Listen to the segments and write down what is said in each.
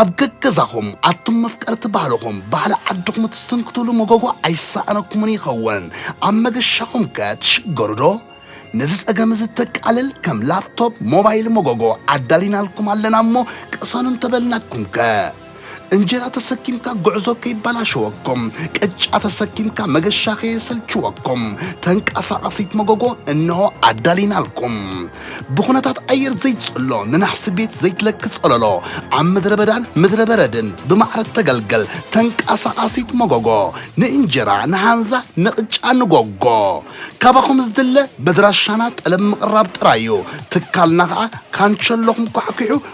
ኣብ ገገዛኹም ኣቱም መፍቀርቲ ባህልኹም ባህሊ ዓድኹም እትስትንክቱሉ መጎጎ ኣይሰኣነኩምን ይኸውን። ኣብ መገሻኹም ከ ትሽገሩዶ? ነዚ ጸገም እዚ እተቃልል ከም ላፕቶፕ፣ ሞባይል መጎጎ ኣዳሊናልኩም ኣለና እሞ ቅሰኑ እንተበልናኩም ከ? እንጀራ ተሰኪምካ ጉዕዞ ከይበላሸወኩም፣ ቅጫ ተሰኪምካ መገሻ ከየሰልችወኩም ተንቀሳቓሲት መጎጎ እነሆ ኣዳሊናልኩም። ብኹነታት ኣየር ዘይትጽሎ ንናሕሲ ቤት ዘይትለኪ ጸለሎ ኣብ ምድረ በዳን ምድረ በረድን ብማዕረ እተገልገል ተንቃሳቓሲት መጎጎ ንእንጀራ ንሃንዛ ንቕጫ ንጎጎ ካባኹም ዝድለ በድራሻና ጠለብ ምቕራብ ጥራይ እዩ ትካልና ከኣ ካንቸሎኹም ኳዕኲዑ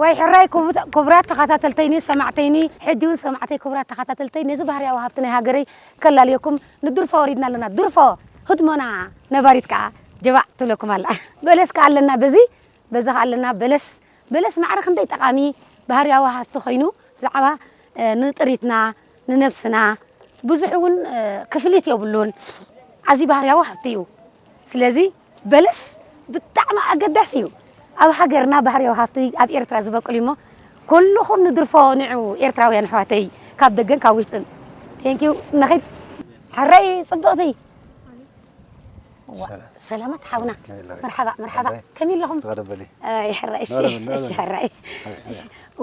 ዋይ ሕራይ ኩቡራት ተኻታተልተይኒ ሰማዕተይኒ ሕጂ ውን ሰማዕተይ ኩቡራት ተኻታተልተይ ነዚ ባህርያዊ ሃፍቲ ናይ ሃገረይ ከላልየኩም ንድርፎ ወሪድና ኣሎና ድርፎ ህድሞና ነባሪት ከኣ ጀባዕ ትብለኩም ኣላ በለስ ከኣ ኣለና በዚ በዚ ከኣ ኣለና በለስ በለስ ማዕረ ክንደይ ጠቓሚ ባህርያዊ ሃፍቲ ኮይኑ ብዛዕባ ንጥሪትና ንነብስና ብዙሕ ውን ክፍሊት የብሉን ኣዝዩ ባህርያዊ ሃፍቲ እዩ ስለዚ በለስ ብጣዕሚ ኣገዳሲ እዩ ኣብ ሃገርና ባህርያዊ ሃፍቲ ኣብ ኤርትራ ዝበቁል እዩሞ ኩሉኹም ንድርፎ ንዑ ኤርትራውያን ኣሕዋተይ ካብ ደገን ካብ ውሽጥን ቴንክ ዩ ንኺድ ሕረይ ጽብቕቲ ሰላማት ሓውና መርሓባ መርሓባ ከመይ ኣለኹም ይሕራ እሺ እሺ ሕራ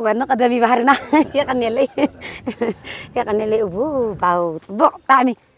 ወኒ ቀደሚ ባህርና የቐኔለይ የቐኔለይ እቡ ባው ጽቡቕ ብጣዕሚ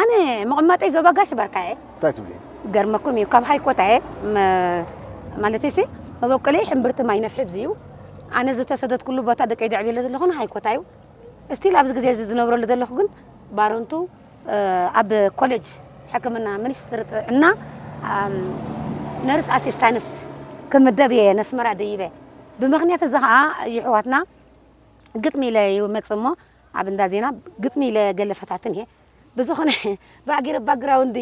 ኣነ መቐማጠይ ዞባ ጋሽ ባርካ እየ። እንታይ ትብሊ? ክገርመኩም እዩ ካብ ሃይኮታ እየ ማለተይሲ መበቆለይ ሕምብርቲ ማይ ነፍሒ እዩ ኣነ ዝተሰደትኩሉ ቦታ ደቀይ ደዕብየለ ዘለኹ ሃይኮታ እዩ እስቲል ኣብዚ ግዜ እዚ ዝነብረሉ ዘለኹ ግን ባረንቱ ኣብ ኮሌጅ ሕክምና ሚኒስትሪ ጥዕና ነርስ ኣሲስታንስ ክምደብ እየ ነስመራ ደይበ ብምክንያት እዚ ከዓ ይሕዋትና ግጥሚ ኢለ ይመፅ እሞ ኣብ እንዳ ዜና ግጥሚ ኢለ ገለ ፈታትን እየ ብዝኾነ ባዕ ጌረ ባግራውንድ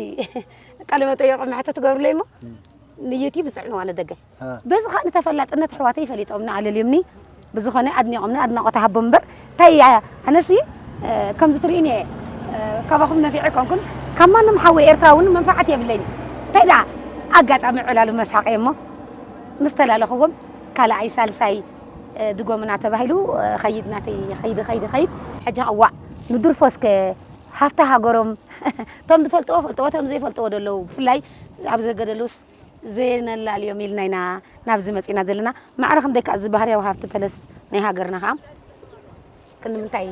ቃለ መጠየቁ መሕተት ትገብርለይ እሞ ንዩቲብ ዝፅዕንዋ ንደገፍ በዚ ከዓ ንተፈላጥነት ኣሕዋተይ ፈሊጦምኒ ኣለልዮምኒ ብዝኾነ ኣድኒቆምኒ ኣድናቆት ሃቦም እምበር እንታይ ኣነሲ ከምዚ ትርእይኒ እየ ካባኹም ነፊዐ ኣይኮንኩን ካብ ማንም ሓወይ ኤርትራ እውን መንፋዓት የብለይን እንታይ ደኣ ኣጋጣሚ ዕላሉ መስሓቀ እሞ ምስ ተላለኽዎም ካልኣይ ሳልሳይ ድጎምና ተባሂሉ ኸይድ ናተይ ኸይድ ኸይድ ኸይድ። ሕጂ ከ ዋእ ንድርፎስ ከ ሃፍቲ ሃገሮም እቶም ዝፈልጥዎ ፈልጥዎ እቶም ዘይፈልጥዎ ዶ ኣለዉ ብፍላይ ኣብ ዘገደሉስ ዘየነላልዮም ኢልና ኢና ናብዚ መጺእና ዘለና ማዕረ ክንደይ ከኣ እዚ ባህርያዊ ሃፍቲ ፐለስ ናይ ሃገርና ከኣ ክንምንታይ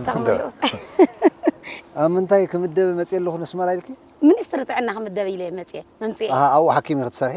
ጠቅሚ ኣለዎ ኣብ ምንታይ ክምደቢ መጽየ ኣለኹ ነስመራ ኢልኪ? ሚኒስትሪ ጥዕና ክምደብ ኢለ መጽየ መምጽኤ። ኣሃ ኣብኡ ሓኪም ኢኺ ትሰርሒ?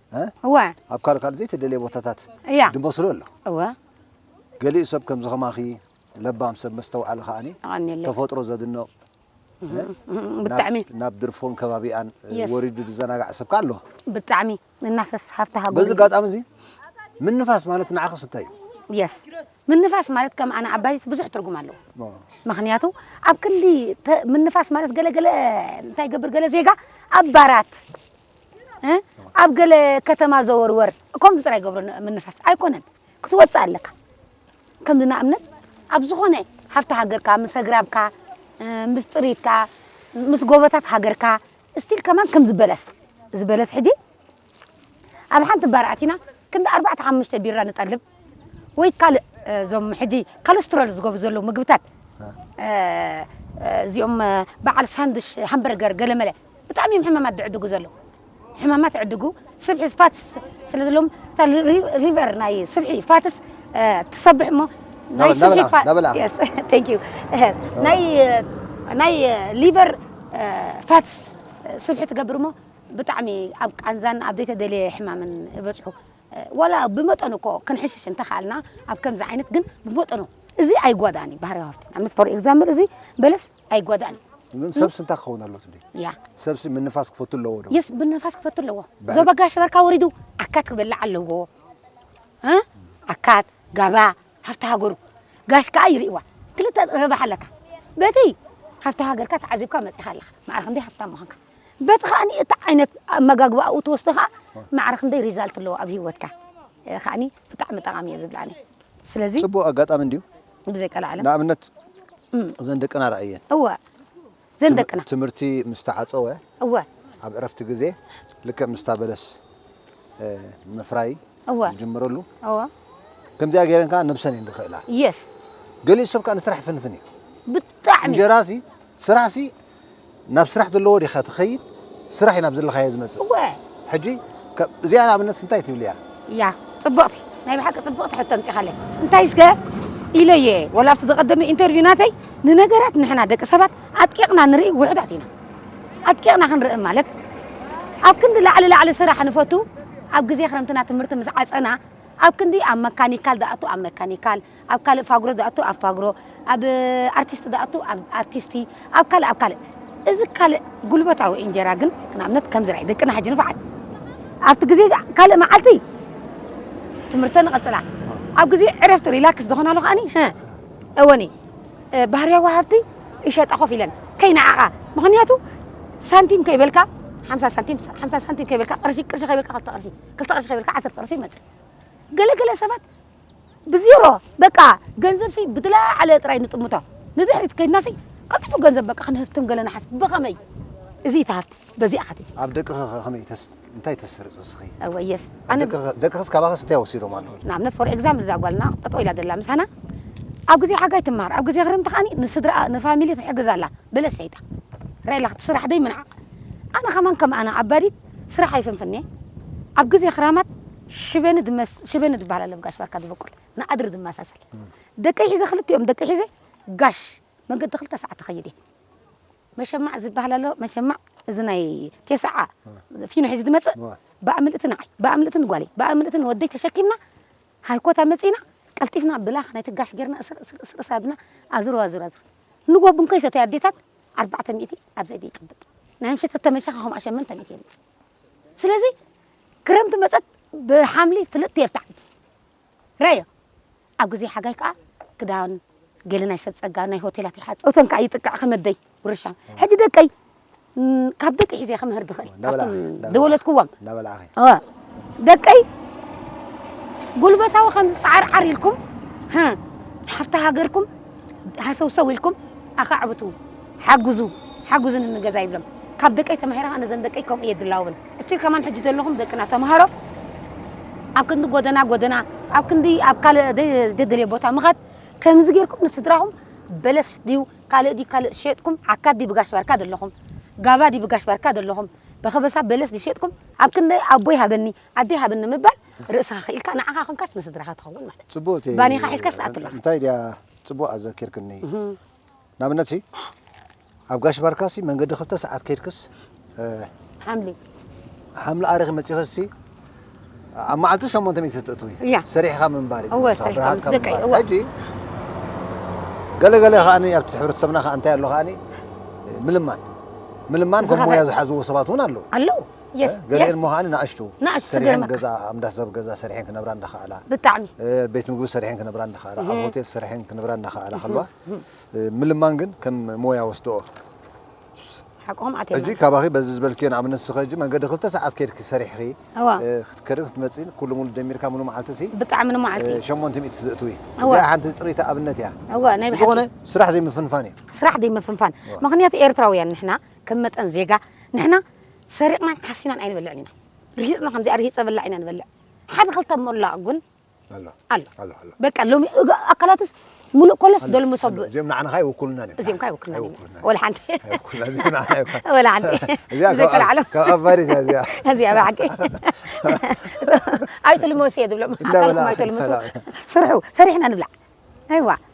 እ? እወ ኣብ ካልእ ካልእ ዘይተደልየ ቦታታት እያ ድመስሎ ኣሎ። እወ ገሊኡ ሰብ ከምዚ ከማኺ ለባም ሰብ መስተውዓሊ ከኣኒ የቐንየለይ ተፈጥሮ ዘድንቕ እ? እም፣ ብጣዕሚ ናብ ናብ ድርፎን ከባቢኣን እ፣ Yes. ወሪዱ ዝዘናጋዕ ሰብ ከኣ ኣሎ። ብጣዕሚ ንናፈስ ሃፍቲ በዚ ሃገሩ ኣጋጣሚ እዚ ምንፋስ ማለት ንዓኽስ እንታይ እዩ? የስ ምንፋስ ማለት ከም ኣነ ኣባይት ብዙሕ ትርጉም ኣለዎ ኦ፣ ምክንያቱ ኣብ ክንዲ ተ- ምንፋስ ማለት ገለገለ እንታይ ገብር ገለ ዜጋ ኣብ ባራት ኣብ ገለ ከተማ ዘወርወር ከምዚ ጥራይ ገብሮ ምንፋስ ኣይኮነን ክትወፅእ ኣለካ ከምዚ ንኣብነት ኣብ ዝኾነ ሃፍቲ ሃገርካ ምስ ኣግራብካ ምስ ጥሪትካ ምስ ጎቦታት ሃገርካ እስቲል ከማን ከምዚ በለስ እዚ በለስ ሕጂ ኣብ ሓንቲ ባር ኣቲና ክንዲ ኣርባዕተ ሓሙሽተ ቢራ ንጠልብ ወይ ካልእ እዞም ሕጂ ካለስትሮል ዝገቡ ዘለዉ ምግብታት እዚኦም በዓል ሳንዱሽ ሃምበርገር ገለመለ ብጣዕሚ እዮም ሕማማት ዝዕድጉ ዘለዉ ሕማማት ይዕድጉ ስብሒ ፋትስ ስለ ዘለዎም እታ ሪቨር ናይ ስብሒ ፋትስ ትሰብሕ እሞ ናይ ስብሒ ናይ ናይ ሊቨር ፋትስ ስብሒ ትገብር እሞ ብጣዕሚ ኣብ ቃንዛን ኣብ ዘይተደልየ ሕማምን ይበፅሑ ዋላ ብመጠኑ እኮ ክንሕሽሽ እንተኻኣልና ኣብ ከምዚ ዓይነት ግን ብመጠኑ እዚ ኣይጓዳእን እዩ ባህርያዊ ሃብቲ ንኣብነት ፎር ኤግዛምብል እዚ በለስ ኣይጓዳእን እዩ ግን ሰብሲ እንታይ ክኸውን ኣለዎ ትብሊ? ያ ሰብሲ ምንፋስ ክፈቱ ኣለዎ ዶ? የስ ምንፋስ ክፈቱ ኣለዎ። ባዕሉ- ዞባ ጋሽ በርካ ወሪዱ ኣካት ክበልዕ ኣለዎ እ ኣካት ጋባ ሃፍቲ ሃገሩ ጋሽ ከዓ ይርእዋ ክልተ ረብሓ ኣለካ በቲ ሃፍቲ ሃገርካ ተዓዚብካ መፂእኻ ኣለኻ ማዕረ ክንደይ ሃፍታም ምዃንካ በቲ ከዓኒ እቲ ዓይነት ኣመጋግባ ኣብኡ ትወስዶ ከዓ ማዕረ ክንደይ ሪዛልት ኣለዎ ኣብ ሂወትካ ከዓኒ ብጣዕሚ ጠቓሚ እየ ዝብል ኣነ ስለዚ ጽቡቕ ኣጋጣሚ እንድዩ ብዘይ ቀላዓለም ንኣብነት እዘን ደቅና ርኣየን እወ ዘን ደቅና ትምህርቲ ምስ ተዓጸወ እወ ኣብ ዕረፍቲ ግዜ ልክዕ ምስታ በለስ ምፍራይ እወ ዝጅምረሉ እወ ከምዚኣ ገይረን ከዓ ነብሰን እየን ዝኽእላ የስ ገሊኡ ሰብ ከዓ ንስራሕ ይፍንፍን እዩ ብጣዕሚ እንጀራሲ ስራሕሲ ናብ ስራሕ ዘለዎ ዲኻ ትኸይድ ስራሕ እዩ ናብ ዘለኻዮ ዝመጽእ እወ ሕጂ ከ- እዚኣ ንኣብነት እንታይ ትብልያ እያ ፅብቕቲ ናይ ብሓቂ ፅብቕቲ ሕቶ ኣምፂኻለይ እንታይ እስከ ኢለ እየ ወላ ኣብቲ ዝቐደመ ኢንተርቪው ናተይ ንነገራት ንሕና ደቂ ሰባት ኣጥቂቕና ንርኢ ውሕዳት ኢና ኣጥቂቕና ክንርኢ ማለት ኣብ ክንዲ ላዕሊ ላዕሊ ስራሕ ንፈቱ ኣብ ግዜ ክረምትና ትምህርቲ ምስ ዓፀና ኣብ ክንዲ ኣብ መካኒካል ዝኣቱ ኣብ መካኒካል ኣብ ካልእ ፋግሮ ዝኣቱ ኣብ ፋግሮ፣ ኣብ ኣርቲስት ዝኣቱ ኣብ ኣርቲስቲ፣ ኣብ ካልእ ኣብ ካልእ። እዚ ካልእ ጉልበታዊ እንጀራ ግን ንኣብነት ከምዚ ራኢ ደቅና ሕጂ ንፋዓት ኣብቲ ግዜ ካልእ መዓልቲ ትምህርተን ይቕጽላ ኣብ ግዜ ዕረፍቲ ሪላክስ ዝኾናሉ ከኣኒ ሀ እወኒ ባህርያዊ ሃብቲ ይሸጣ ኮፍ ኢለን ከይነዓቓ ምኽንያቱ ሳንቲም ከይበልካ ሓምሳ ሳንቲም ሓምሳ ሳንቲም ከይበልካ ቅርሺ ቅርሺ ከይበልካ ክልተ ቅርሺ ክልተ ቅርሺ ከይበልካ ዓሰርተ ቅርሺ ይመጽእ ገለገለ ሰባት ብዜሮ በቃ ገንዘብሲ ብዝለዓለ ጥራይ ንጥምቶ ንድሕሪት ከይድናሲ ቀልጢፉ ገንዘብ በቃ ክንህፍትም ገለ ንሓስብ ብኸመይ እዚ እቲ ሃፍቲ በዚኣ ከትጅ ኣብ ደቅኺ ከ ከመይ ተስ እንታይ ተስርጽ እስኺ እወ የስ ኣብ ኣነ ደቅኺ ደቅኽስ ካባኽስ እንታይ ወሲዶም ኣለዉ ንኣብነት ፎር ኤግዛምፕል እዛ ጓልና ጠጠው ኢላ ዘላ ምሳና ኣብ ግዜ ሓጋይ ትመሃር ኣብ ግዜ ክረምቲ ከኣ ንስድራኣ ንፋሚሊ ትሕግዝ ኣላ በለስ ሸይጣ ርኣየላ ክትስራሕ ዘይምንዓቕ ኣነ ከማን ከም ኣና ዓባዲት ስራሕ ኣይፍንፍንየ ኣብ ግዜ ክራማት ሽበኒ ድመስ ሽበኒ ድበሃል ኣለ ብ ጋሽ ባርካ ድበቁል ንኣድሪ ድመሳሰል ደቀይ ሒዘ ክልቲኦም ደቀይ ሒዘ ጋሽ መንገዲ ክልተ ሳዓት እከይድ እየ መሸማዕ ዝብሃል ኣሎ መሸማዕ እዚ ናይ ቴስዓ ፊኖ ሒዙ ድመጽእ ባኣምልእቲ ንዓይ ባኣምልእቲ ንጓለይ ባኣምልእቲ ንወደይ ተሸኪምና ሃይኮት ኣመጺእና ቀልጢፍና ብላኻ ነቲ ጋሽ ጌርና እስር እስር እስር እስር ኣብልና ኣዙር ኣዙር ኣዙር ንጎ ብንኮይ ሰተይ ኣዴታት ኣርባዕተ ሚእቲ ኣብ ዘይቲ ይቅብጥ ናይ ምሸት ተተመሻኺ ከምኣ ሸመንተ ሚእቲ የምጽእ ስለዚ ክረምቲ መጸት ብሓምሊ ፍልጥ የርታዕ እቲ ረዮ ኣብ ግዜ ሓጋይ ከኣ ክዳን ገለ ናይ ሰብ ጸጋ ናይ ሆቴላት ይሓጽ እቶን ከኣ ይጥቅዕ ከመደይ ጉርሻ ሕጂ ደቀይ ካብ ደቂ ሒዘ ክምህር ድኽእል ካብቶም ዝወለድክዎም ደቀይ ጉልበታዊ ከምዚ ፃዓርዓር ኢልኩም ሃፍቲ ሃገርኩም ሃሰውሰው ኢልኩም ኣኻዕብቱ ሓግዙ ሓግዙ ንገዛ ይብሎም ካብ ደቀይ ተማሂረ ከዓ ነዘን ደቀይ ከምኡ እየ ድላውብን እስቲል ከማን ሕጂ ዘለኹም ደቅና ተምሃሮ ኣብ ክንዲ ጎደና ጎደና ኣብ ክንዲ ኣብ ካልእ ዘይተደልየ ቦታ ምኻድ ከምዚ ጌርኩም ንስድራኹም በለስ ድዩ ካልእ ድዩ ካልእ ዝሸጥኩም ዓካት ድዩ ብጋሽ ባርካ ዘለኹም ጋባ ድዩ ብጋሽ ባርካ ዘለኹም በከበሳ በለስ ድዩ ዝሸጥኩም ኣብ ክንደይ ኣቦይ ሃበኒ ኣደይ ሃበኒ ምባል ርእስኻ ክኢልካ ንዓኻ ኮንካስ ንስድራኻ ትኸውን ማለት እዩ ጽቡቅ እቲ ባኒኻ ሒዝካስ ትኣቱ ኣለኻ እንታይ ድያ ጽቡቅ ኣዘኪርክኒ ንኣብነት ሲ ኣብ ጋሽ ባርካሲ መንገዲ ክልተ ሰዓት ከይድክስ ሓምሊ ሓምሊ ኣሪኺ መጺኺ ሲ ኣብ መዓልቲ ሸሞንተ ሚእቲ ትእትዊ ሰሪሕኻ ምንባር እዩ ብርሃትካ ምንባር ሕጂ ገለገለ ከዓኒ ኣብቲ ሕብረተሰብና ከዓ እንታይ ኣሎ ከዓኒ ምልማን ምልማን ከም ሞያ ዝሓዝዎ ሰባት እውን ኣለዉ ኣለዉ ገሊአን እሞ ከዓኒ ንኣሽቱ ሰሪሐን ገዛ ኣምዳስ ሰብ ገዛ ሰሪሐን ክነብራ እንዳኸኣላ ብጣዕሚ ቤት ምግቢ ሰሪሐን ክነብራ እንዳኸኣላ ኣብ ሆቴል ሰሪሐን ክነብራ እንዳኸኣላ ከለዋ ምልማን ግን ከም ሞያ ወስደኦ ሓቆም ኣቴና ሕጂ ካባኺ በዚ ዝበልክዮ ንኣብነት ንስኺ ሕጂ መንገዲ ክልተ ሰዓት ኬድኪ ሰሪሕኺ እዋ እ፣ ክትከድን ክትመጽእን ኩሉ ሙሉ ደሚርካ ሙሉ መዓልቲሲ ብጣዕሚ እ፣ ንመዓልቲ ሸሞንተ ሚእቲ ዘእትዊ እዋ እዚኣ ሓንቲ ጽርይቲ ኣብነት እያ እዋ ናይ ብሓቂ ብዝኾነ ስራሕ ዘይምፍንፋን እዩ ስራሕ ዘይምፍንፋን እዋ ምክንያቱ ኤርትራውያን ንሕና ከም መጠን ዜጋ ንሕና ሰሪቕናን ሓሲናን ኣይንበልዕን ኢና ርሂጽና ከምዚኣ ርሂጸ በላዕ ኢና ንበልዕ ሓደ ክልተ ሞላቕ ግን ኣሎ ኣሎ ኣሎ በቃ ሎሚ ኣካላቱስ ሙሉእ ኮለስ ዶልሞ ሰብ እዚኦም ንዓናኻ ይውክሉና እዚኦም ካ ይውክሉና ወላ ሓንቲ ወላ ሓንቲ ዘይተላዕሎ ካብ ኣባሪት እያ እዚኣ እዚኣ ብሓቂ ኣይትልመሱ እየ ዝብሎም ኣካልኩም ኣይትልመሱ ስርሑ ሰሪሕና ንብላዕ ኣይዋ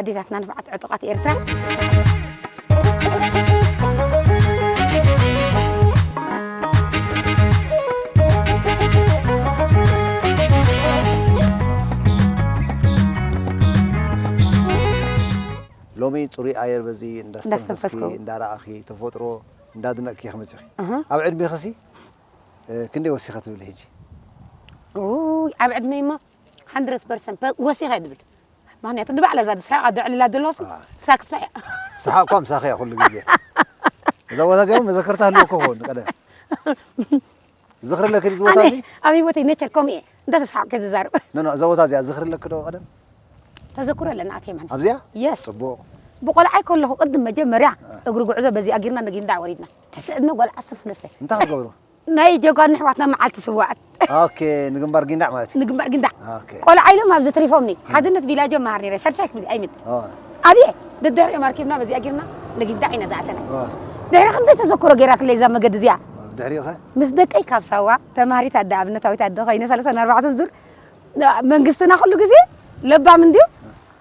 ኣዴታትና ንፉዓት ዕጡቓት ሎሚ ፅሩይ ኣየር በዚ እንዳስተንፈስኪ እንዳስተንፈስኩ። እንዳረኣኺ ተፈጥሮ እንዳድነቕኪ ኢኺ መፂኺ እህ። ኣብ ዕድሜኺ ሲ ክንደይ ወሲኸ ትብሊ ሕጂ ውይ ኣብ ዕድመይ እሞ ሃንድረት ፐርሰንት ፐ- ወሲኸ እየ ዝብል ምክንያቱ ንባዕላ እዛ ዝስሕቃ ዘዕልላ ዘለኹ ሲ ኣይ። ሳክሳ እያ ሰሓቕኳ ምሳኺ እያ ኩሉ ግዜ እዛ ቦታ እዚኣ እውን መዘከርታ ህልወኩ ክኸውን ቀደም ዝኽሪ ኣለኪ ድዩ ቦታ ኣነ እዚ ኣብ ሂወተይ ነቸር ከምኡ እየ እንዳተስሓቅ ከ ዝዛርብ ኖ ኖ እዛ ቦታ እዚኣ ዝኽሪ ኣለኪ ዶ ቀደም ተዘክሮ ኣለና ኣትየ ማለት ኣብዚኣ የስ ፅቡቕ ብቆልዓይ ከለኹ ቅድም መጀመርያ እግሪ ጉዕዞ በዚኣ ጊርና ነጊንዳዕ ወሪድና ትሕቲ ዕድመ ጓል ዓሰርተ ሰለስተ እንታይ ክትገብሩ ናይ ጀጋኑ ኣሕዋትና መዓልቲ ስውኣት። ኦኬ ንግንባር ጊንዳዕ ማለት እዩ። ንግንባር ጊንዳዕ ኦኬ ቆልዓ ኢሎም ኣብዚ ትሪፎምኒ ሓድነት ቢላጆ መሃር ነይረ ሻድሻይ ክፍሊ ኣይምት ኣብየ ደድሕሪኦም ኣርኪብና በዚኣ ጌርና ንጊንዳዕ ኢና ዝኣተና ድሕሪ ክንደይ ተዘክሮ ጌራትለይ እዛ መገዲ እዚኣ ድሕሪኡ ከ ምስ ደቀይ ካብ ሳዋ ተማሃሪት ኣደ ኣብነታዊት ኣደ ኮይነ ሰለሳን ኣርባዕተን ዙር መንግስትና ኩሉ ግዜ ለባም እንድዩ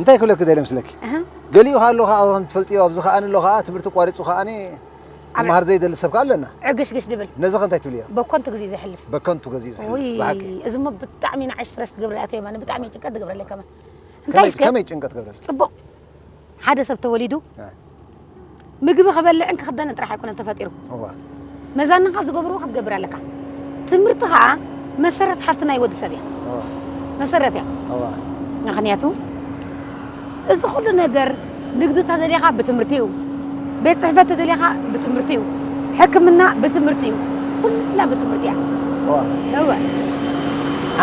እንታይ ክብለኪ ደልየ መስለኪ ገሊኡ ከኣ ኣሎ ከኣ ከም ትፈልጥዮ ኣብዚ ከኣ ኣሎ ከኣ ትምህርቲ ኣቋሪጹ ከኣ ክመሃር ዘይደሊ ሰብ ከኣ ኣሎ እና ዕግሽግሽ ድብል ነዚ ከ እንታይ ትብልዮ በኮንቱ ግዜ ዘሕልፍ በከንቱ ገዚኡ ዝሕልፍ ብሓቂ እዚ እሞ ብጣዕሚ ንዓይ ስትረስ ትገብረለይ ኣቶ የማነ ብጣዕሚ ጭንቀት ትገብረለይ ከመን እንታይ እስከ ከመይ ጭንቀት ትገብረለይ ጽቡቕ ሓደ ሰብ ተወሊዱ ምግቢ ክበልዕን ክኽደንን ጥራሕ ኣይኮነን ተፈጢሩ እወ መዛንኻ ዝገብርዎ ክትገብር ኣለካ ትምህርቲ ከዓ መሰረት ሃፍቲ ናይ ወዲ ሰብ እያ እወ መሰረት እያ እወ ምክንያቱ እዚ ኩሉ ነገር ንግዲ ተደሊኻ ብትምህርቲ እዩ ቤት ፅሕፈት ተደሊኻ ብትምህርቲ እዩ ሕክምና ብትምህርቲ እዩ ኩላ ብትምህርቲ እያ እወ እወ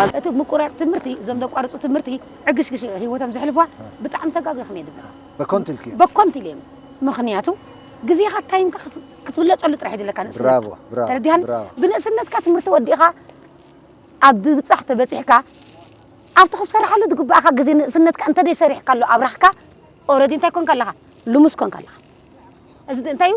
ዓን- እቲ ምቁራፅ ትምህርቲ እዞም ዘቋርፁ ትምህርቲ ዕግሽግሽ ህይወቶም ዘሕልፍዋ ብጣዕሚ ተጋጊኹም እየ ድብላ በኮንት ኢልክዮ በኮንት ኢልዮም ምክንያቱ ግዜኻ ታይምካ ክትብለጸሉ ጥራሕ ይድለካ ንእስነት ብራቮ ብራቮ ተረዲሃን ብራቮ ብንእስነትካ ትምህርቲ ወዲእኻ ኣብ ምብጻሕ ተበጺሕካ ኣብቲ ክትሰርሓሉ ዝግባእካ ግዜ ንእስነትካ እንተደይ ሰሪሕካሉ ኣብራኽካ ኦረዲ እንታይ ኮንካ ኣለኻ ልሙስ ኮንካ ኣለኻ እዚ እንታይ እዩ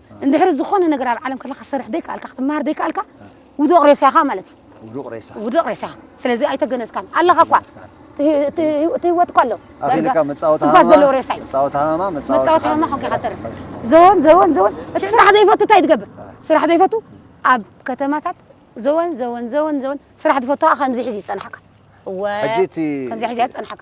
እንድሕሪ ዝኾነ ነገር ኣብ ዓለም ከለኻ ክትሰርሕ ዘይከኣልካ ክትመሃር ዘይከኣልካ ውዱቕ ሬሳ ኢኻ ማለት እዩ። ውዱቕ ሬሳ ውዱቕ ሬሳ ኢኻ። ስለዚ ኣይተገነዝካን ኣለኻ እኳ ኣይተገነዝካን። እቲ እቲ ህይወት እኳ ኣሎ ኣኺልካ ዳርጋ መጻወቲ ትንፋስ ሃመማ ዘለዎ ሬሳ እዩ። መጻወቲ ሃመማ መጻወቲ መጻወቲ ሃመማ ሃመማ ኮንካ ኢኻ እትተርፍ። ኣብ ሽንኩር። ዘወን ዘወን ዘወን እቲ ስራሕ ዘይፈቱ እንታይ ትገብር? ስራሕ ዘይፈቱ ኣብ ከተማታት ዘወን ዘወን ዘወን ዘወን ስራሕ ዝፈቱ ከኣ ከምዚ ሒዙ ይጸንሓካ። እወ ሕጂ እቲ ከምዚ ሒዙ እያ ትጸንሓካ።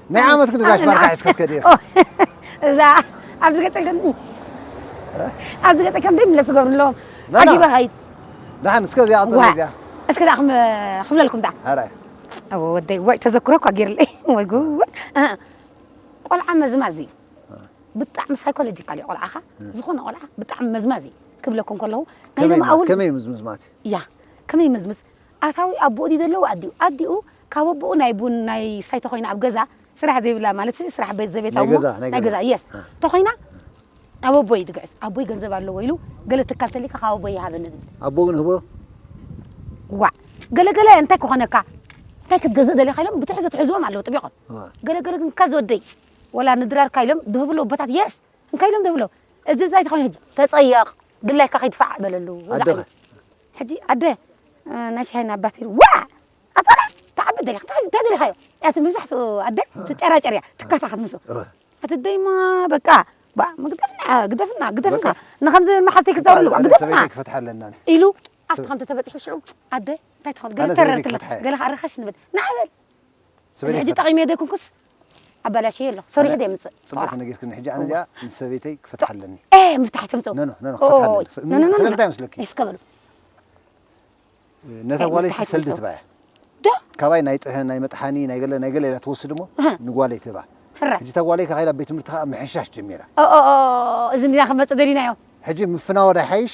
ናይ ዓመት ክንዲ ጋሽ ባርካ ሒዝኪ ክትከዲ ኢኺ እዛ ኣብዚ ገፀ ከም ኣብዚ ገፀ ከም ዘይምለስ ዝገብሩ ኣለዎም ና፣ ና። ዓጊበ ኸይድ ደሓን እስከ እዚኣ ቅፅል እዚኣ እስከ ዳኣ ክም- ክብለልኩም ዳኣ ኧረ ኣወ ወደይ ወይ ተዘክሮ እኳ ገይርለይ ወይ ጉድ እ፣ ቆልዓ መዝማዝ እዩ ብጣዕሚ ሳይኮሎጂካል እዩ ቆልዓኻ ዝኾነ ቆልዓ ብጣዕሚ መዝማዝ እዩ ክብለኩም ከለኹ ናይ ከመይ ሎሚ ኣውል ከመይ እዩ ምዝምዝማት ያ ከመይ መዝምዝ ኣታዊ ኣቡኡ ድዩ ዘለዎ ኣዲኡ ኣዲኡ ካብ ኣቡኡ ናይ ቡን ናይ ስታይ ተኮይና ኣብ ገዛ ስራሕ ዘይብላ ማለት ስራሕ ቤት ዘቤታዊ እሞ ናይ ገዛ የስ ተኮይና ናብ ኣቦይ ድግዕዝ ኣቦይ ገንዘብ ኣለዎ ኢሉ ገለ ትካል ተሊካ ካብ ኣቦይ ይሃበኒ ድብል ኣቦ ግን ህቦ ዋዕ ገለ ገለ እንታይ ክኾነካ እንታይ ክትገዝእ ደሊኻ ኢሎም ብትሕዞ ትሕዝዎም ኣለዉ ጥቢቆም ገለ ገለ ግን ካዝ ወደይ ወላ ንድራርካ ኢሎም ድህብሉ ኣቦታት የስ እንታይ ኢሎም ድህብሎ እዚ እንታይ ተኮይኑ ተጸየቕ ድላይካ ከይድፋዕ በለሉ ኣደኸ ሕጂ ኣደ ናይ ሻሂ ናብ ባትሪ ዋእ ኣጸረ ትዓቢ ኣደ ዲኻ እንታይ ደሊኻዮ እያ ትብል መብዛሕትኡ ኣደ ትጨራጨር እያ ትካታኸት ምስኡ እቲ ደይማ በቃ ባእ ምግደፍና ግደፍና ግደፍና ንኸምዚ መሓዝተይ ክዛረብ ኣለዋ ግደፍና ክፈትሓ ኣለና ኢሉ ኣብቲ ከምቲ ተበጺሑ ሽዑ ኣደ እንታይ ትኸውን ገለ ተረርትለ ገለ ከኣ ርኸሽ ንብል ንዓበል እዚ ሕጂ ጠቒመ ዘይኮንኩስ ኣባላሽዮ ኣሎ ሰሪሑ ዘየምጽእ ጽቡቅ ቆልዓ ተነጊርክኒ ሕጂ ኣነ እዚኣ ምስ ሰበይተይ ክፈትሓ ኣለኒ ኤህ ምፍታሕ ትምጽኡ ኖ ኖ ኖ ኖ ክፈትሓ ኣለኒ ኦይ ፍ- ኖ ኖ ኖ ስለምንታይ መስለኪ እስከ በሉ ነታ ኣይ፣ ጓለይ ምፍታሕ ሰልዲ ኣይትምጽኡ። ትባያ ዶ ካባይ ናይ ጥህን ናይ መጥሓኒ ናይ ገለ ናይ ገለ ኢላ ትወስድ እሞ እህ። ንጓለይ ትህባ ሕረ ሕጂ እታ ጓለይ ከይዳ ቤት ትምህርቲ ከዓ ምሕሻሽ ጀሚራ ኦኦኦ እዚ እንዲና ክመጽእ ደሊናዮ ሕጂ ምፍናወ ዶ ይሓይሽ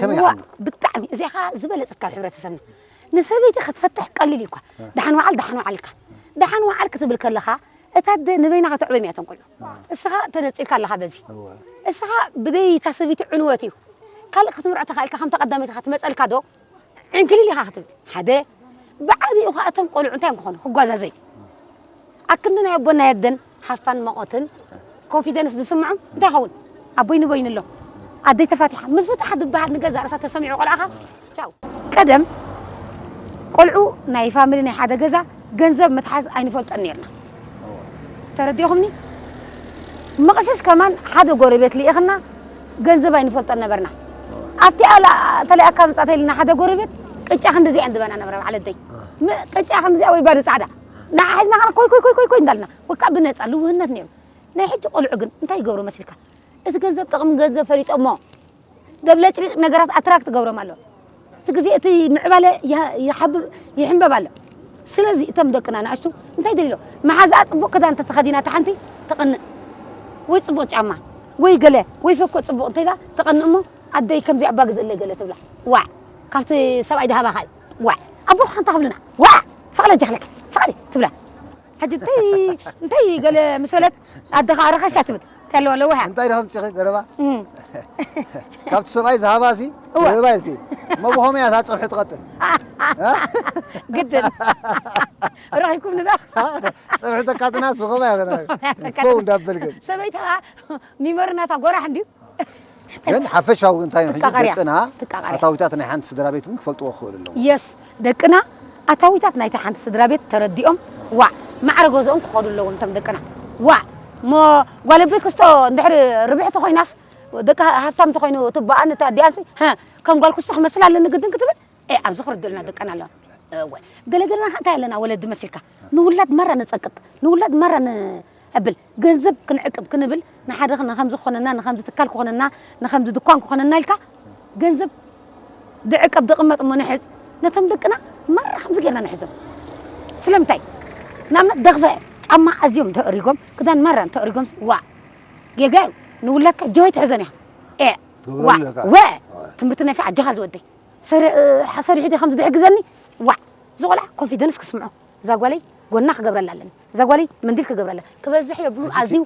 ከመይ ዋእ ሓሉ ብጣዕሚ እዚኣ ከዓ ዝበለፀት ካብ ሕብረተሰብና ንሰበይቲ ክትፈትሕ ቀሊል እዩ እኳ ደሓን ወዓል ደሓን ወዓል ኢልካ ደሓን ወዓል ክትብል ከለኻ እታ ኣደ ንበይና ከተዕበዮም እያ እቶም ቆልዑ እስኻ ተነፂልካ ኣለኻ በዚ እወ እስኻ ብዘይ እታ ሰበይቲ ዕንወት እዩ ካልእ ክትምርዖ ተኻኢልካ ከምታ ቀዳመይቲ እኻ ትመፀልካ ዶ ዕንክሊል ኢኻ ክትብል ሓደ ብዓቢኡ ኸኣ እቶም ቆልዑ እንታይ እዮም ክኾኑ ክጓዛዘዩ ኣብ ክንዲ ናይ ኣቦን ናይ ኣደን ሃፋን መቖትን ኮንፊደንስ ዝስምዖም እንታይ ይኸውን ኣቦይ ንበይኑ ኣሎ ኣደይ ተፋቲሓ ምፍታሕ ዝበሃል ንገዛእ ርእሳ ተሰሚዑ ቆልዓኻ ቻው ቀደም ቆልዑ ናይ ፋሚሊ ናይ ሓደ ገዛ ገንዘብ ምትሓዝ ኣይንፈልጦን ነርና ተረዲእኹምኒ መቕሽሽ ከማን ሓደ ጎረቤት ልኢኽና ገንዘብ ኣይንፈልጦን ነበርና ኣብቲኣ ተለኣካ መጻእተይ ልና ሓደ ጎረቤት ቅጫ ክንዲዚኣ እንድበና ነበረ በዓል ኣደይ ቅጫ ክንዲዚኣ ወይ ባዶ ጻዕዳ ንዓ ሒዝና ከና ኮይ ኮይ ኮይ ኮይ እንዳልና ወካ ብነጻ ልውህነት ነይሩ ናይ ሕጂ ቆልዑ ግን እንታይ ይገብሩ መስልካ እቲ ገንዘብ ጥቕሚ ገንዘብ ፈሊጦሞ ደብለጭሊጭ ነገራት ኣትራክት ትገብሮም ኣሎ እቲ ግዜ እቲ ምዕባለ ይሓብብ ይሕንበብ ኣሎ ስለዚ እቶም ደቅና ንኣሽቱ እንታይ ደልሎ መሓዛኣ ፅቡቅ ክዳን ተተኸዲና ተሓንቲ ተቐንእ ወይ ፅቡቅ ጫማ ወይ ገለ ወይ ፈኮ ፅቡቅ እንተኢላ ተቐንእ እሞ ኣደይ ከምዚ ኣባ ግዝእለይ ገለ ትብላ ዋዕ ካብቲ ሰብኣይ ድሃባኻ እዩ ዋዕ ኣቦኻ እንታይ ክብልና ዋዕ ሰቕለ ጀኽለኪ ሰቕሊ ትብላ ሕጂ እንታይ እንታይ ገለ ምስ በለት ኣደኻ ኣረኸሻ ትብል እንታይ ኣለዋ ለዋህ እያ እንታይ ድኸም ፂኺ ዘረባ ካብቲ ሰብኣይ ዝሃባ ሲ ይህባ ኢልኪ እሞ ብኸመይ እያ እታ ፀብሒ ትቐጥን ግድን ረኺብኩም ንዳ ፀብሒ ተካትናስ ብኸመይ እያ ፈው እንዳበልክን ሰበይትኻ ሚሞሪ ናታ ጎራሕ እንድዩ ግን ሓፈሻዊ ግን እንታይ ሕጂ ደቅና ኣታዊታት ናይ ሓንቲ ስድራ ቤት ግን ክፈልጥዎ ክኽእሉ ኣለዎም የስ ደቅና ኣታዊታት ናይቲ ሓንቲ ስድራ ቤት ተረዲኦም ዋዕ ማዕረ ገዝኦም ክኸዱ ኣለዎም እቶም ደቅና ዋዕ እሞ ጓል ኣቦይ ክስቶ እንድሕሪ ርብሕቲ ኮይናስ ደቂ ሃብታም እንተኮይኑ እቲ ኣቦኣን እቲ ኣዲኣንሲ ከም ጓል ክስቶ ክመስል ኣለኒ ግድን ክትብል ኣብዚ ክርድኡልና ደቀን ኣለዋ እወ ገለገለና ከ እንታይ ኣለና ወለዲ መሲልካ ንውላድ ማራ ነፀቅጥ ንውላድ ማራ ነዕብል ገንዘብ ክንዕቅብ ክንብል ንሓደ ንከምዚ ክኾነና ንከምዚ ትካል ክኾነና ንከምዚ ድኳን ክኾነና ኢልካ ገንዘብ ድዕቀብ ድቕመጥ እሞ ንሕዝ ነቶም ደቅና ማራ ከምዚ ጌርና ንሕዞም ስለምንታይ ንኣብነት ደኽፈ ጫማ ኣዝዮም እንተእሪጎም ክዳን ማራ እንተእሪጎም ዋ ጌጋ እዩ ንውላድካ ጆሆይ ትሕዘን እያ ኤ ዋ ወ ትምህርቲ ናይ ፊ ኣጆኻ ዝወደይ ሰሪሑ ዶ ከምዚ ድሕግዘኒ ዋ ዝቆልዓ ኮንፊደንስ ክስምዖ እዛ ጓለይ ጎና ክገብረላ ኣለኒ እዛ ጓለይ መንዲል ክገብረላ ክበዝሕ የብሉን ኣዝዩ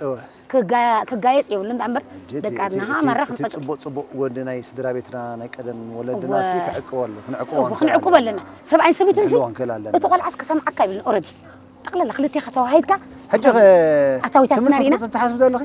ክጋየጽ የብሉን እንዳ እምበር ደቂ ኣድናሃ ማራ ክንፈጥር። እቲ ጽቡቅ ጽቡቅ ጎኒ ናይ ስድራቤትና ናይ ቀደም ወለድናሲ ክዕቅቦ ኣሎ ክንዕቅቦ ክንዕቅቦ ኣለና ሰብኣይን ሰበይትንሲ እቲ ቆልዓስ ክሰምዓካ የብሉን ኦረዲ ጠቅላላ ክልቴካ ተዋሃሂድካ ሕጂኸ ትምህርቲ ክትወጽኢ ትሓስቢ ዶ ኣለኺ።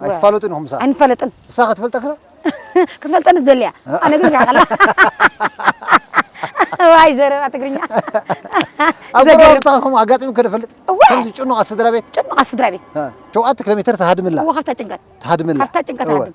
ኣይትፋለጡን ኢኹም ምሳኻ ኣይንፋለጥን ንሳ ክትፈልጠ ክላ ክፈልጠን ዝደልያ ኣነ ግን ጋዕላ ዋይ ዘረባ ትግርኛ ኣብ ዘገርም ጎረባብትኻ ከምኡ ኣጋጢሙ ከ ፈልጥ እዋይ! ከምዚ ጭኑቓት ስድራ ቤት ጭኑቓት ስድራ ቤት ሸውዓተ ኪሎ ሜትር ትሃድምላ እዎ ካብታ ጭንቀት ትሃድምላ ካብታ ጭንቀት እወ። ሃድም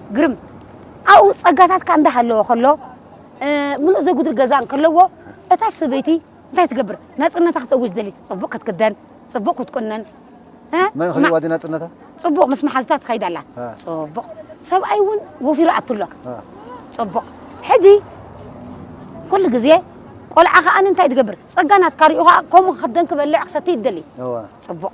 ግርም ኣብኡ ጸጋታትካ እንዳሃለወ ከሎ ምሉእ ዘጉድል ገዛ እንከለዎ እታ ሰበይቲ እንታይ ትገብር ናጽነታ ክትእውጅ ደሊ ጽቡቕ ክትክደን ጽቡቕ ክትቁነን መን ክልዋ ዲ ናጽነታ ጽቡቕ ምስ መሓዝታ ትኸይድ ኣላ ጽቡቕ ሰብኣይ እውን ወፊሩ ኣቱ ኣሎ ጽቡቕ ሕጂ ኩሉ ግዜ ቆልዓ ከዓኒ እንታይ ትገብር ጸጋ ናትካ ሪኡ ከዓ ከምኡ ክክደን ክበልዕ ክሰቲ ይደሊ ጽቡቕ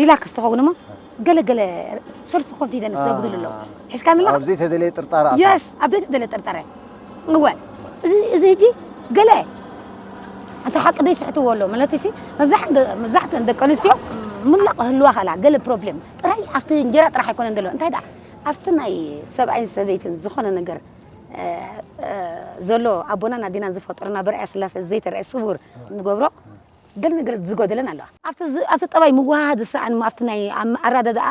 ሪላክስ ትኸውን እሞ ገለ ገለ ሰልፍ ኮንፊደንስ ዘጉድሉ ኣለዉ ሒዝካ ምላ ኣብ ዘይተደለየ ጥርጣረ ኣታ የስ ኣብ ዘይተደለየ ጥርጣረ እወ እዚ እዚ ሕጂ ገለ እቲ ሓቂ ዘይስሕትዎ ኣሎ ማለት ሲ መብዛሕትአን ደቂ ኣንስትዮ ምላ ክህልዋ ከላ ገለ ፕሮብሌም ጥራይ ኣብቲ እንጀራ ጥራሕ ኣይኮነን ዘለዎ እንታይ ደኣ ኣብቲ ናይ ሰብኣይን ሰበይትን ዝኾነ ነገር ዘሎ ኣቦናን ኣዴናን ዝፈጠሩና ብርኣያ ስላሴ ዘይተረእየ ስውር ንገብሮ ገለ ነገረት ዝጎደለን ኣሎ። ኣብቲ ጠባይ ምውህሃድ ዝሰኣን'ሞ ኣብቲ ናይ ኣረዳድኣ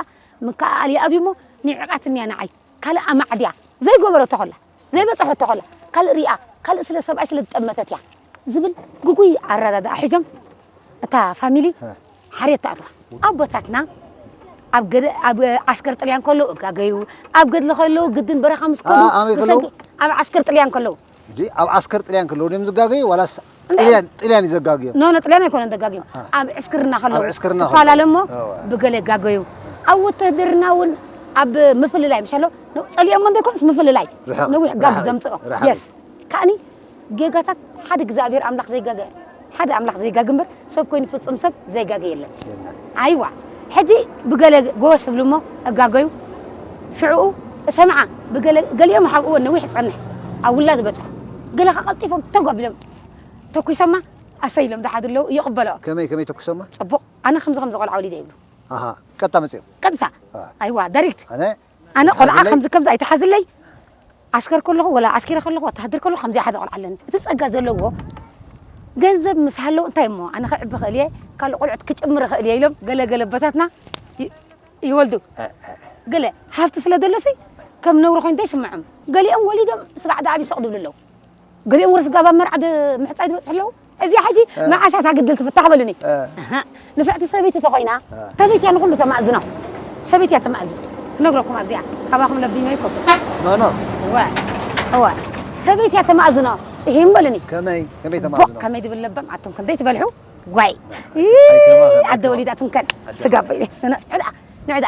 ምክእኣል ይኣብዩ'ሞ ንዒቓትኒ'ያ ንዓይ ካልእ ኣማዕድያ ዘይገበረቶ ከላ ዘይበጸሖቶ ከላ ካልእ ሪኣ ካልእ ስለ ሰብኣይ ስለ ዝጠመተት'ያ ዝብል ግጉይ ኣረዳድኣ ሒዞም እታ ፋሚሊ ሓርየት ትኣትዋ። ኣቦታትና ኣብ ዓስከር ጥልያን ከለዉ እጋገዩ ኣብ ገድሊ ከለዉ ግድን በረኻ ምስ ከዱ ብሰንኪ ኣብ ዓስከር ጥልያን ከለዉ። ሕጂ ኣብ ዓስከር ጥልያን ከለዉ ድዮም ዝጋገዩ ዋላስ ጥልያን ጥልያን እዩ ዘጋግዮም? ኖ ኖ ጥልያን ኣይኮነን ዘጋግዮም ኣብ ዕስክርና ኣብ ከለዉ ዕስክርና ከለዉ። ትፈላለ እሞ እወ። ብገለ ይጋገዩ ኣብ ውትህድርና እውን ኣብ ምፍልላይ ምሻ ኣሎ ን- ጸሊኦሞ እንተይኮነስ ምፍልላይ ርሕቕት፣ ነዊሕ ጋግ ርሕቕት፣ ዘምጽኦ ርሕቕት። የስ ከዓኒ ጌጋታት ሓደ እግዚኣብሔር ኣምላኽ ዘይጋገ ሓደ ኣምላኽ ዘይጋገ እምበር ሰብ ኮይኑ ፍጹም ሰብ ዘይጋገ የለን። የለን ኣይዋ ሕጂ ብገለ ጎወስ እብሉ እሞ እጋገዩ ሽዕኡ እሰምዓ ብገለ ገሊኦም ሓ እወ ነዊሕ ጸንሕ ኣብ ውላ ዝበጽሑ ገለ ከ ቀልጢፎም ተግ ኣቢሎም ተኲሶማ ኣሰይ ኢሎም ዝሓዱ ኣለዉ ይቕበሎ ከመይ ከመይ ተኲሶማ ጽቡቕ ኣነ ከምዚ ከምዚ ቆልዓ ወሊደ ይብሉ ኣሃ ቀጥታ መጺኦም ቀጥታ እ። ኣይዋ ዳሪክት ኣነ ኣነ ቆልዓ ከምዚ ከምዚ ኣይትሓዝለይ ዓስከር ከለኹ ወላ ዓስኪረ ከለኹ ወተሃደር ከለኹ ከምዚኣ ሓደ ቆልዓ ኣለኒ እቲ ጸጋ ዘለዎ ገንዘብ ምስ ሃለዉ እንታይ እሞ ኣነ ክዕቢ ክእል እየ ካልእ ቆልዑት ክጭምር ክእል እየ ኢሎም ገለ ገለ ኣቦታትና ይወልዱ ገለ ሃብቲ ስለ ደለሲ ከም ነውሪ ኮይኑ እንታይ ይስምዖም ገሊኦም ወሊዶም ስጋዕ ዳዕብ ይሰቕድብሉ ኣለዉ ገሊኦም ወረ ስድራ ብ መርዓ ምሕጻይ ዝበጽሑ ኣለዉ እዚኣ ሕጂ መዓስ እያ እታ ግድል ትፍታሕ በሉኒ ኣሃ ንፍዕቲ ሰበይቲ ተኾይና ሰበይቲ እያ ንኹሉ ተማእዝኖ ሰበይቲ እያ ተማእዝን ክነግረኩም ኣብዚኣ ካባኹም ለቢመ ይኮኩ ኖኖ እወ እወ ሰበይቲ እያ ተማእዝኖ ይህም በሉኒ ከመይ ከመይ ተማእዝኖ ከመይ ድብል ለበም ኣቱም ክንደይ ትበልሑ ጓይ ኣደ ወሊዳ ትንከን ስጋ በይ ንዕዳ ንዕዳ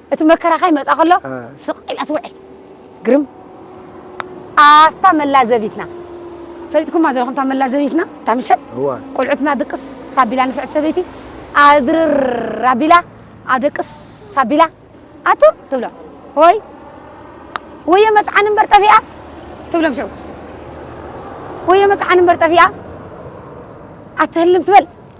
እቲ መከራ ከይመጽኣ ከሎ ስቕ ኢላ ትውዕል። ግርም! ኣፍታ መላዘቢትና ፈሊጥኩማ ዘለኹም እታ መላዘቢትና እታ ምሸት እዋ ቁልዑትና ድቅስ ኣቢላ ንፍዕቲ ሰበይቲ ኣድርር ኣቢላ ኣደቅስ ኣቢላ ኣቱም ትብሎም ወይ ወዮ መጽዓን እምበር ጠፊኣ ትብሎም ሸው ወዮ መጽዓን እምበር ጠፊኣ ኣትህልም ትበል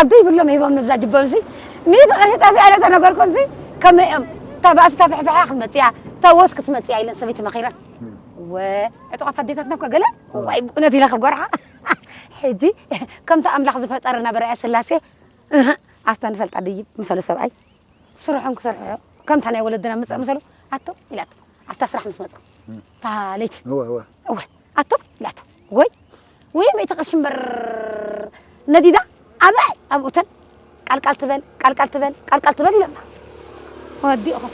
ዓዱ ይብሎም ሂቦም ንብዛ ጅቦም ሲ ሚእቲ ቅርሺ ጠፊኣ ኢለ ተነገርኩም ሲ ከመይ እዮም እታ ባእሲ እታ ፍሕፍሓ ክትመፅእ እያ እታ ወስ ክትመፅእ እያ ኢለን ሰበይቲ መኺረን ወ ዕጡቓት ኣዴታትና እኮ ገለ ዋይ ብእውነት ኢለ ክጎርሓ ሕጂ ከምቲ ኣምላኽ ዝፈጠረ ናብ ርኣያ ስላሴ ኣብታ ንፈልጣ ድይብ ምሰሉ ሰብኣይ ስርሖም ክሰርሑ ከምታ ናይ ወለድና ምፀእ ምሰሉ ኣቶ ኢላቶ ኣብታ ስራሕ ምስ መፁ እታ ለይቲ እወ ኣቶ ላታ ወይ ወይ መይቲ ቅርሺ እምበር ነዲዳ ኣበይ ኣብ ኡተን ቃልቃል ትበል ቃልቃል ትበል ቃልቃል ትበል ኢሎና ወዲእኹም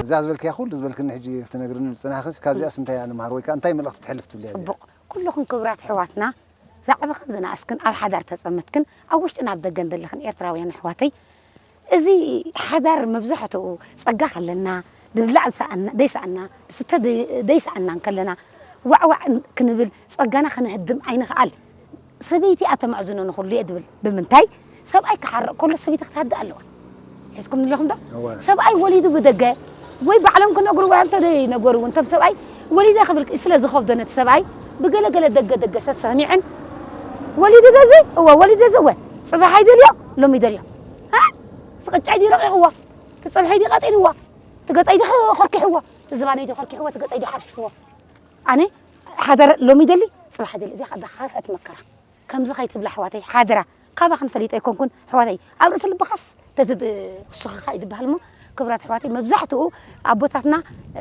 እዛ ዝበልክያ ኩሉ ዝበልክኒ ሕጂ ትነግርኒ ዝጽናሕክስ ካብዚኣስ እንታይ ኢና ንመሃር ወይ ከኣ እንታይ መልእኽቲ ትሕልፍ ትብልያ እዚኣ ጽቡቕ ኩልኹም ክብራት ኣሕዋትና ዝዓበኽን ዝነኣስክን ኣብ ሓዳር ተጸመድክን ኣብ ውሽጥን ኣብ ደገን ዘለኽን ኤርትራውያን ኣሕዋተይ እዚ ሓዳር መብዛሕትኡ ጸጋ ከለና ድብላዕ ዘይሰኣና ድስተ ዘይሰኣና እንከለና ዋዕ ዋዕ ክንብል ጸጋና ከነህድም ኣይንኽኣል ሰበይቲ እያ ተማእዝኖ ንኹሉ እየ ድብል ብምንታይ ሰብኣይ ክሓርቕ ከሎ ሰበይቲ ክትሃድእ ኣለዋ። ሒዝኩምኒ ኣለኹም ዶ? እወ። ሰብኣይ ወሊዱ ብደገ ወይ ባዕሎም ክነግርዎ እዮም እንተዘይነገሩ እውን እቶም ሰብኣይ ወሊደ ክብል ስለ ዝኸብዶ ነቲ ሰብኣይ ብገለ ገለ ደገ ደገ ሰሰሚዐን ወሊዱ ዶ እዚ እወ ወሊዱ እዚ እወ ፅባሕ ኣይደልዮ ሎሚ ይደልዮ እ እቲ ቅጫይ ድዩ ረቒቕዎ እቲ ፀብሐይ ድዩ ቀጢንዎ እቲ ገፀይ ድዩ ኸ- ኾርኪሕዎ እቲ ዝባነይ ድዩ ኾርኪሕዎ እቲ ገፀይ ድዩ ሓርፊፍዎ ኣነ ሓደር ሎሚ ይደሊ ፅባሕ ይደሊ እዚኣ ከኣ ደኻኸት መከራ ከምዚ ከይትብሊ ኣሕዋተይ ሓደራ ካባክን ፈሊጠ ኣይኮንኩን ኣሕዋተይ ኣብ ርእሲ ልብካስ ተዝውስክካ እዩ ዝብሃል እሞ ክብራት ኣሕዋተይ መብዛሕትኡ ኣቦታትና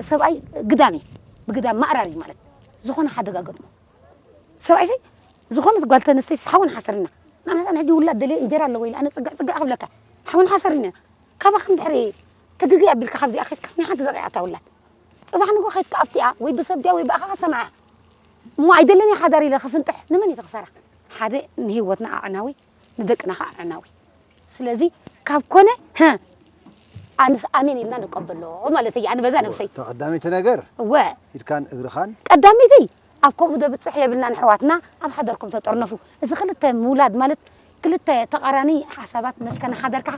ሰብኣይ ግዳም እዩ ብግዳም ማእራር እዩ ማለት ዝኮነ ሓደጋ ገጥሞ ሰብኣይ ሰይ ዝኾነት ጓል ተንስተይትስ ሓውን ሓሰርን ኢና ንኣብነት ኣነ ሕጂ ውላድ ደልየ እንጀራ ኣለዎ ኢለ ኣነ ጽግዕ ጽግዕ ክብለካ ሓውን ሓሰርን ኢና ካባክን ድሕሪ ትግግይ ኣቢልካ ካብዚኣ ከይትካስ ናይ ሓንቲ ዘቂዓታ ውላድ ጽባሕ ንግሆ ከይትካ ኣብቲኣ ወይ ብሰብ ድያ ወይ ብኣኻ ክትሰምዓ እሞ ኣይደልን እየ ሓዳር ኢለ ክፍንጥሕ ንመን እየ ዝኽሰራ ሓደ ንሂወትና ኣዕናዊ ንደቅና ከኣ ኣዕናዊ ስለዚ ካብ ኮነ ህ ኣንስ ኣሜን ኢልና ንቀበሎ ማለት እየ ኣነ በዛ ነብሰይ እታ ቀዳመይቲ ነገር እወ ኢድካን እግርኻን ቀዳመይቲ ኣብ ከምኡ ዘብጽሕ የብልናን ኣሕዋትና ኣብ ሓዳርኩም ተጠርነፉ እዚ ክልተ ምውላድ ማለት ክልተ ተቃራኒ ሓሳባት መሽካ ንሓዳርካ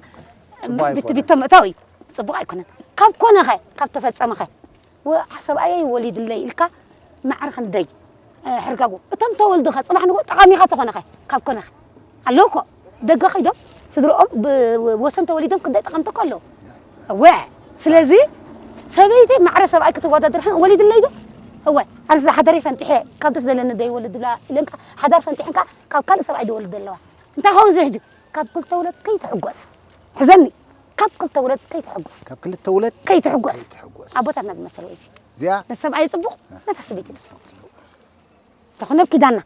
ጽቡቅ ቢቲ ኣይኮነን። ቢቶ ምእታው እዩ ጽቡቅ ኣይኮነን ካብ ኮነ ከ ካብ ተፈጸመ ከ ወእ ሰብኣየይ ወሊድለይ ኢልካ ማዕረ ክንደይ ሕርጋጎ እቶም ተወልዱኸ ጽባሕ ንግሆ ጠቓሚኻ ተኾነኸ ካብ ኮነኸ ኣለዉ እኮ ደገ ከይዶም ስድርኦም ብወሰን ተወሊዶም ክንደይ ጠቐምቲ እኮ ኣለዉ እወ ስለዚ ሰበይቲ ማዕረ ሰብኣይ ክትወዳድርሕን ወሊድለይ ዶ እወ ኣርዚ ሓደረይ ፈንጢሐ ካብ ደስ ዘለኒ ደይወልድላ ኢለንካ ሓዳር ፈንጢሕንካ ካብ ካልእ ሰብኣይ ደወልድ ኣለዋ እንታይ ኸውን ዝሕጂ ካብ ክልተ ውለት ከይትሕጎስ ሕዘኒ ካብ ክልተ ውለድ ከይትሕጎስ ካብ ክልተ ውለድ ከይትሕጎስ ከይትሕጎስ ኣቦታትና ዝመሰልዎ እዩ እዚኣ ንሰብኣይ ፅቡቕ ነታ ሰበይቲ ፅቡቕ ፅቡቕ ተኾነ ኣብ ኪዳና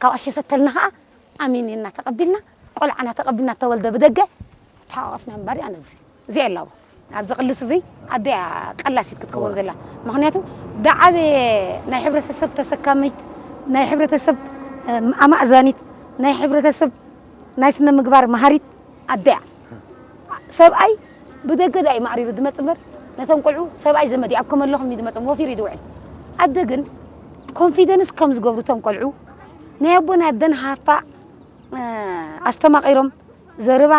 ካብኣ ሸተተልና ከዓ ኣሜን ኢልና ተቐቢልና ቆልዓና ተቐቢልና ተወልደ ብደገ ተሓቋቒፍና ምንባር እዩ ኣነብር እዚኣ የላዎ ኣብዚ ቅልስ እዚ ኣደ እያ ቀላሲት ክትከውን ዘላ ምክንያቱ ዳዓበየ ናይ ሕብረተሰብ ተሰካሚት ናይ ሕብረተሰብ እ፣ ኣማእዛኒት ናይ ሕብረተሰብ ናይ ስነ ምግባር መሃሪት ኣደ እያ ሰብኣይ ብደገ ድኣ እዩ ማዕሪሩ ዝመጽእ እምበር ነቶም ቆልዑ ሰብኣይ ዘመድ እዩ ኣብ ከመ ኣለኹም እዩ ዝመጽኦም ወፊሩ እዩ ዝውዕል ኣደ ግን ኮንፊደንስ ከም ዝገብሩ እቶም ቆልዑ ናይ ኣቦን ኣደን ሃፋ ኣስተማቒሮም ዘረባ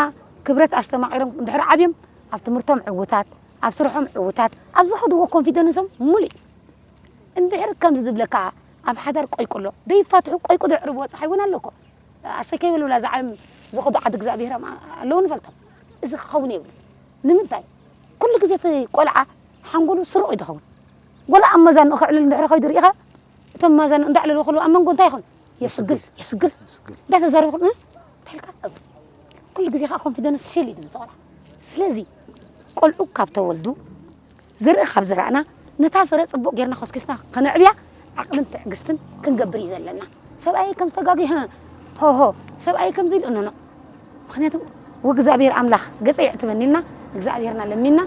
ክብረት ኣስተማቒሮም እንድሕር ዓብዮም ኣብ ትምህርቶም ዕውታት ኣብ ስርሖም ዕውታት ኣብ ዝኸድዎ ኮንፊደንሶም ሙሉእ እንድሕር ከምዚ ዝብለካ ኣብ ሓዳር ቆይቁሎ ደይፋትሑ ቆይቁዶ ዕርብ ወጻሓይ እውን ኣሎ እኮ ኣሰይ ከይበሉላ እዛ ዓለም ዝኸዱ ዓዲ እግዚኣብሄሮም ኣለዉ ንፈልጦም እዚ ክኸውን የብሉን ንምንታይ ኩሉ ግዜ እቲ ቆልዓ ሓንጎሉ ስሩቕ እዩ ዝኸውን ጎላ ኣብ መዛንኡ ከዕልል እንድሕሪ ከይዱ ርኢኻ እቶም መዛንኡ እንዳዕለሉ ከለዉ ኣብ መንጎ እንታይ ይኸውን የስግል የስግል እንዳተዛረቡ ከለዉ እንታይ ኢልካ ኩሉ ግዜ ከዓ ኮንፊደንስ ሽል እዩ ዝብል ቆልዓ ስለዚ ቆልዑ ካብ ተወልዱ ዝርኢ ካብ ዘራእና፣ ነታ ፍረ ጽቡቕ ጌርና ኮስኪስና ከነዕብያ ዓቕልን ትዕግስትን ክንገብር እዩ ዘለና። ሰብኣየይ ከም ዝተጋግየ ህእ ሆሆ ሰብኣየይ ከምዚ ኢሉ ኖኖእ ምኽንያቱ ወእግዚኣብሔር ኣምላኽ ገጸ የዕትበኒ ኢልና እግዚኣብሔርና ለሚንና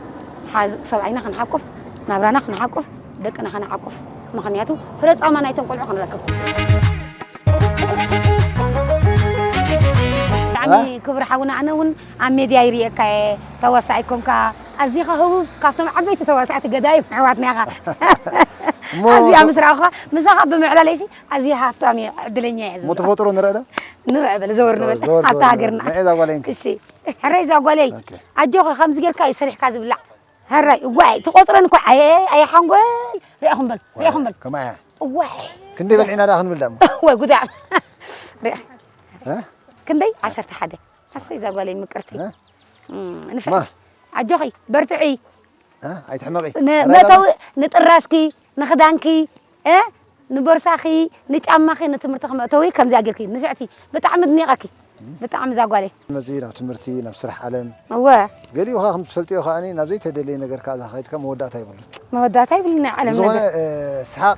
ሓዝ ሰብኣይና ክንሓቁፍ ናብራና ክንሓቁፍ ደቅና ክንሓቁፍ ምኽንያቱ ፍረ ጻማ ናይቶም ቆልዑ ክንረክብ። ብጣዕሚ ክቡር ሓውና ኣነ እውን ኣብ ሜድያ ይሪኤካ እየ ተዋሳኣይ ኮንካ ኣዚኻ ህቡብ ካብቶም ዓበይቲ ተዋሳእቲ ገዳይም ኣሕዋትና ኢኻ ኣዚኣ ምስ ረኣኹኻ ምሳኻ ብምዕላለይሲ ኣዚየ ሃፍታም እየ ዕድለኛ እየ ዝብሎ ተፈጥሮ ንርእ ዶ ንርእ በል ዘወር ንበል ኣብታ ሃገርና ንዕይ ዛጓለይ እሺ ሕረይ ዛጓለይ ኣጆኺ ከምዚ ጌርካ እዩ ሰሪሕካ ዝብላዕ ሕረይ እዋይ ትቆፅረን እኮ ኣየ ኣየ ሓንጎል ሪኢኹም በል ሪኢኹም በል ከማያ እዋይ ክንደይ በልዒና ደኣ ክንብል ደሞ ወይ ጉዳ ክንደይ ዓሰርተ ሓደ ኣሰይ እዛ ጓለይ ምቅርቲ ንፍዕቲ ኣጆኺ በርትዒ ኣይትሕመቂ መእተዊ ንጥራስኪ ንኽዳንኪ ንቦርሳኺ ንጫማኺ ንትምህርትኺ መእተዊ ከምዚኣ ጌርኪ ንፍዕቲ ብጣዕሚ ድኒቐኪ ብጣዕሚ እዛ ጓለይ መፂ ናብ ትምህርቲ ናብ ስራሕ ዓለም እወ ገሊኡ ከዓ ከም ትፈልጥዮ ከዓ ናብ ዘይተደለየ ነገር ከዓ እዛ ከይድካ መወዳእታ የብሉን መወዳእታ የብሉን ናይ ዓለም ነገር ዝኾነ ሰሓቅ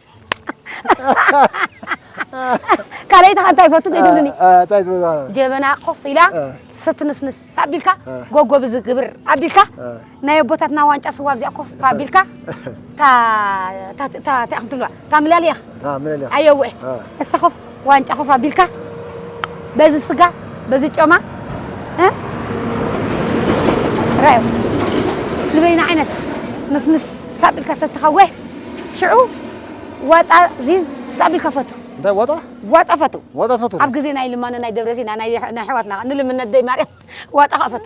ካልኣይቲ ከ እንታይ ይፈቱ ዘይትብልኒ እንታይ ትብል ማለት እዩ? ጀበና ኮፍ ኢላ እ። ስትንስንስ ኣቢልካ እ። ጎጎብ ዝግብር ኣቢልካ እ። ናይ ኣቦታትና ዋንጫ ስዋ ኣብዚኣ ኮፍ ኣቢልካ እታ እታ እታ እታ እያ ትብልዋ እታ ምላሊያ እታ ምልልያ ኣየወ እ። እሳ ኮፍ ዋንጫ ኮፍ ኣቢልካ በዚ ስጋ በዚ ጮማ ራዮ ዝበይና ዓይነት ምስምስ ሳቢልካ ሰተኻወ ሽዑ ዋጣ ዚዝ ሳቢልካ ፈቱ እንታይ ዋጣ ዋጣ ፈቱ ዋጣ ፈቱ ኣብ ግዜ ናይ ልማኖ ናይ ደብረሲና ናይ ኣሕዋትና ንልምነት ደይ ማርያም ዋጣ ኸፈቱ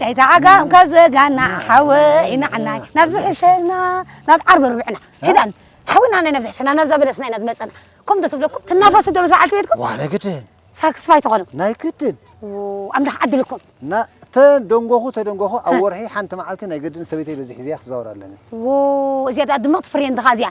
ጨይታ ዓጋም ካብ ዘጋና ሓወይ ናዕናይ ናብ ዝሕሸና ናብ ዓርቢ ርብዕና ኪዳን ሓወይ ናዕናይ ናብ ዝሕሸና ናብዛ በለስና ኢና ዝመፀና ከምዶ ትብለኩም ትናፈሱ ዶ ምስ በዓልቲ ቤትኩም ዋነ ግድን ሳክስፋይ ትኾኑ ናይ ግድን ኣምላኽ ዓድልኩም እና ተደንጎኹ ተደንጎኹ ኣብ ወርሒ ሓንቲ መዓልቲ ናይ ግድን ሰበይተይ በዚ ሒዘያ ክዛወር ኣለኒ እዚኣ ድምቕቲ ፍሬንድኻ እዚኣ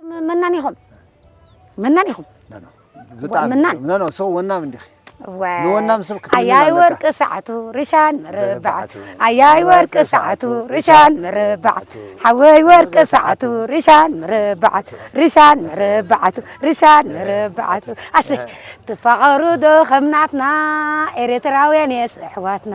ም- መናን ኢኹም መናን ኢኹም ኖ፣ ኖ፣ ብጣዕሚ ወናም። ኖ፣ ኖ፣ ሰው ወናም እንዲኺ ዋይ፣ ንወናም ሰብ ክትምንዩ ኣያይ ኣለካ። ወርቂ ሰዓቱ ርሻን ምርባዕቱ ምርባዕቱ፣ ኣያይ ወርቂ ሰዓቱ ርሻን ምርባዕቱ ሓወይ ወርቂ ሰዓቱ ርሻን ምርባዕቱ ርሻን ምርባዕቱ ርሻን ምርባዕቱ ኣስ ትፋቐሩ ዶ ከምናትና ኤርትራውያን የስ ኣሕዋትና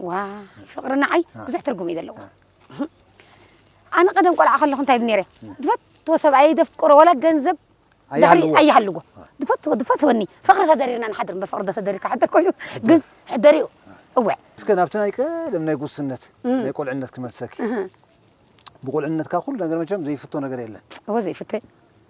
ዋእ ፍቅሪ ንዓይ ብዙሕ ትርጉም እዩ ዘለዎ ኣነ ቀደም ቆልዓ ከለኹ እንታይ ነይረ ዝፈትዎ ሰብኣየይ ዘፍቅሮ ዋላ ገንዘብ ኣይሃልዎ። ኣይሃልዎ ዝፈትዎ ዝፈትወኒ ፍቅሪ ተደሪርና ንሓድር እምበር ፍቅሪ ተደሪርካ ሓድር ኮይኑ ግን ሕደሪኡ እወ እስከ ናብቲ ናይ ቀደም ናይ ጉስነት እም። ናይ ቁልዕነት ክመልሰኪ እህ፣ ብቁልዕነትካ ኩሉ ነገር መቸም ዘይፍቶ ነገር የለን እወ ዘይፍተ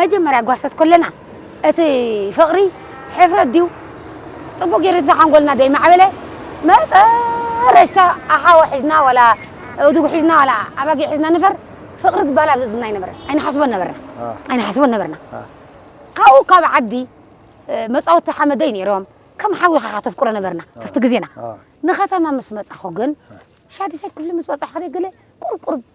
መጀመርያ ጓሶት ኮለና እቲ ፍቅሪ ሕፍረት ድዩ ጽቡቅ ጌሩ እንተ ሓንጎልና ደይ ማዕበለ መጠረሽታ ኣሓወ ሒዝና ወላ እዱግ ሒዝና ወላ ኣባጊዕ ሒዝና ንፈር ፍቅሪ ትባል ኣብ ዝዝና ኣይነበረን ኣይንሓስቦን ነበርና ኣይንሓስቦን ነበርና ካብኡ ካብ ዓዲ መጻወቲ ሓመደይ ነይሮም ከም ሓዊኻ ካ ተፍቅሮ ነበርና ትፍቲ ግዜና ንከተማ ምስ መጻኹ ግን ሻድሻይ ክፍሊ ምስ በጻሕኹ ገለ ቁርቁር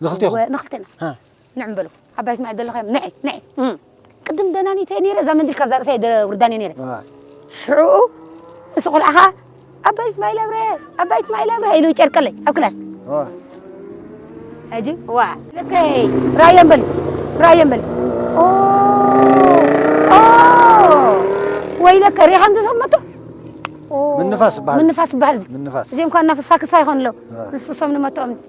ንክልቴኹም እወ ንክልቴና ሀ ንዕም በሉ ዓባይቲ ማይ ደለኻዮም ንዒ ንዒ እም። ቅድም ደናኒተ እየ ነይረ እዛ መንዲል ካብዛ ርእሰይ ደውርዳን እየ ነይረ አ፣ ሽዑኡ እሱ ቆልዓ ከዓ ዓባይቲ ማይ ለብረ ዓባይቲ ማይ ለብረ ኢሉ ይጨርቀለይ ኣብ ክላስ አ፣ ሕጂ ዋ ልከይ ራዮ በሊ ራዮ በሊ ኦ ኦ ወይለከ ሪሓ እንተሰመቶ ኦ፣ ምንፋስ ይበሃል። ምንፋስ ይበሃል ምንፋስ። እዚኦም ኳ እናፈሳ ክሳ ይኾኑ ኣለዉ አ። ንስሶም ንመትኦም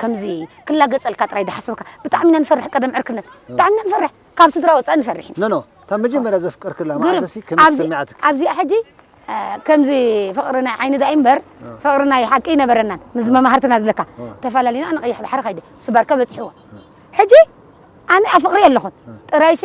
ከምዚ ክላገጸልካ ጥራይ ዳሓሰብካ ብጣዕሚ ኢና ንፈርሕ ቀደም ዕርክነት ብጣዕሚ ኢና ንፈርሕ ካብ ስድራ ወጻኢ ንፈርሕ ኢና ኖኖ እታ መጀመርያ ዘፍቀርክላ ማዓልትሲ ከመይ ተሰሚዓትኪ ኣብዚኣ ሕጂ ከምዚ ፍቅሪ ናይ ዓይኒ ዳኣ ኢምበር ፍቅሪ ናይ ሓቂ ኣይነበረናን ምስ መማህርትና ዝብለካ ተፋላሊና ኣነ ቀይሕ ባሕሪ ከይደ እሱ ባርካ በጺሕዎ ሕጂ ኣነ ኣፍቅርያ ኣለኩ ጥራይሲ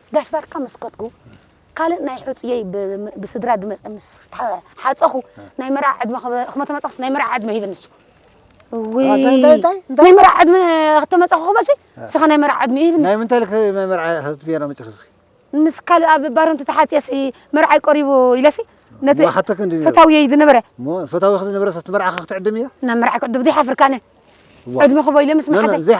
ጋሽ ባርካ ምስ ከድኩ ካልእ ናይ ሑጹየይ ብስድራ ድመጸ ምስ ሓጸኹ ናይ መርዓ ዕድመ ክመተመጸኹስ ናይ መርዓ ዕድመ ሂበ ንሱ ናይ መርዓ ዕድመ ክተመጸኹ ክበሲ ስኻ ናይ መርዓ ዕድመ ሂብኒ ናይ ምንታይ ልክ ናይ መርዓ ክትብየና መጽኺ ስኺ ምስ ካልእ ኣብ ባረንቲ ተሓጽየሲ መርዓይ ቀሪቡ ኢለሲ ነቲ ሓተክ እንዲ ፈታውየይ ዝነበረ እሞ ፈታዊ ዝነበረ ሰብቲ መርዓኻ ክትዕድም እያ ናብ መርዓ ክዕድም ዘይሓፍርካነ ዕድመ ክቦ ኢለ ምስ መሓዘይ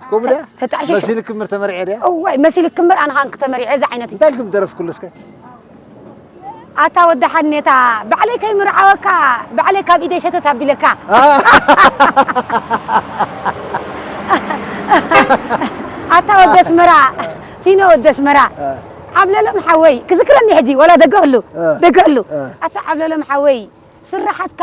እስከ ድያ ተጣዕሽ መሲል ክምር ተመርዔ ድያ እዋይ መሲል ክምር ኣነ ካን ክተመርዔ እዚ ዓይነት እንታይ ልኩም ደረፍ ኩሉ እስከ ኣታ ወዲ ሓኔታ ባዕለይ ከይምርዓወካ ባዕለይ ካብ ኢደይ ሸተት ኣቢለካ ኣታ ወዲ ኣስመራ ፊኖ ወዲ ኣስመራ ዓብለሎም ሓወይ ክዝክረኒ ሕጂ ወላ ደገ ክሉ ደገ ክሉ ኣታ ዓብለሎም ሓወይ ስራሓትካ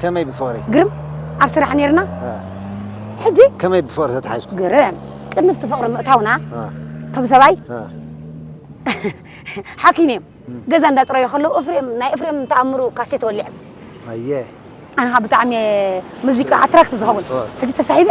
ከመይ ብፍቕሪ? ግርም! ኣብ ስራሕ ኔርና። ሕጂ? ከመይ ብፍቕሪ ተተሓሒዝኩም? ግርም! ቅድሚ ኣብቲ ፍቕሪ ምእታውና እቶም ሰብኣይ ሓኪም እዮም። ገዛ እንዳጽረዩ ከለዉ እፍሬም ናይ እፍሬም ተኣምሩ ካሴት ወሊዖም። ኣየ! ኣነ ከኣ ብጣዕሚ እየ ሙዚቃ ኣትራክት ዝኸውን። ሕጂ ተሳሒበ።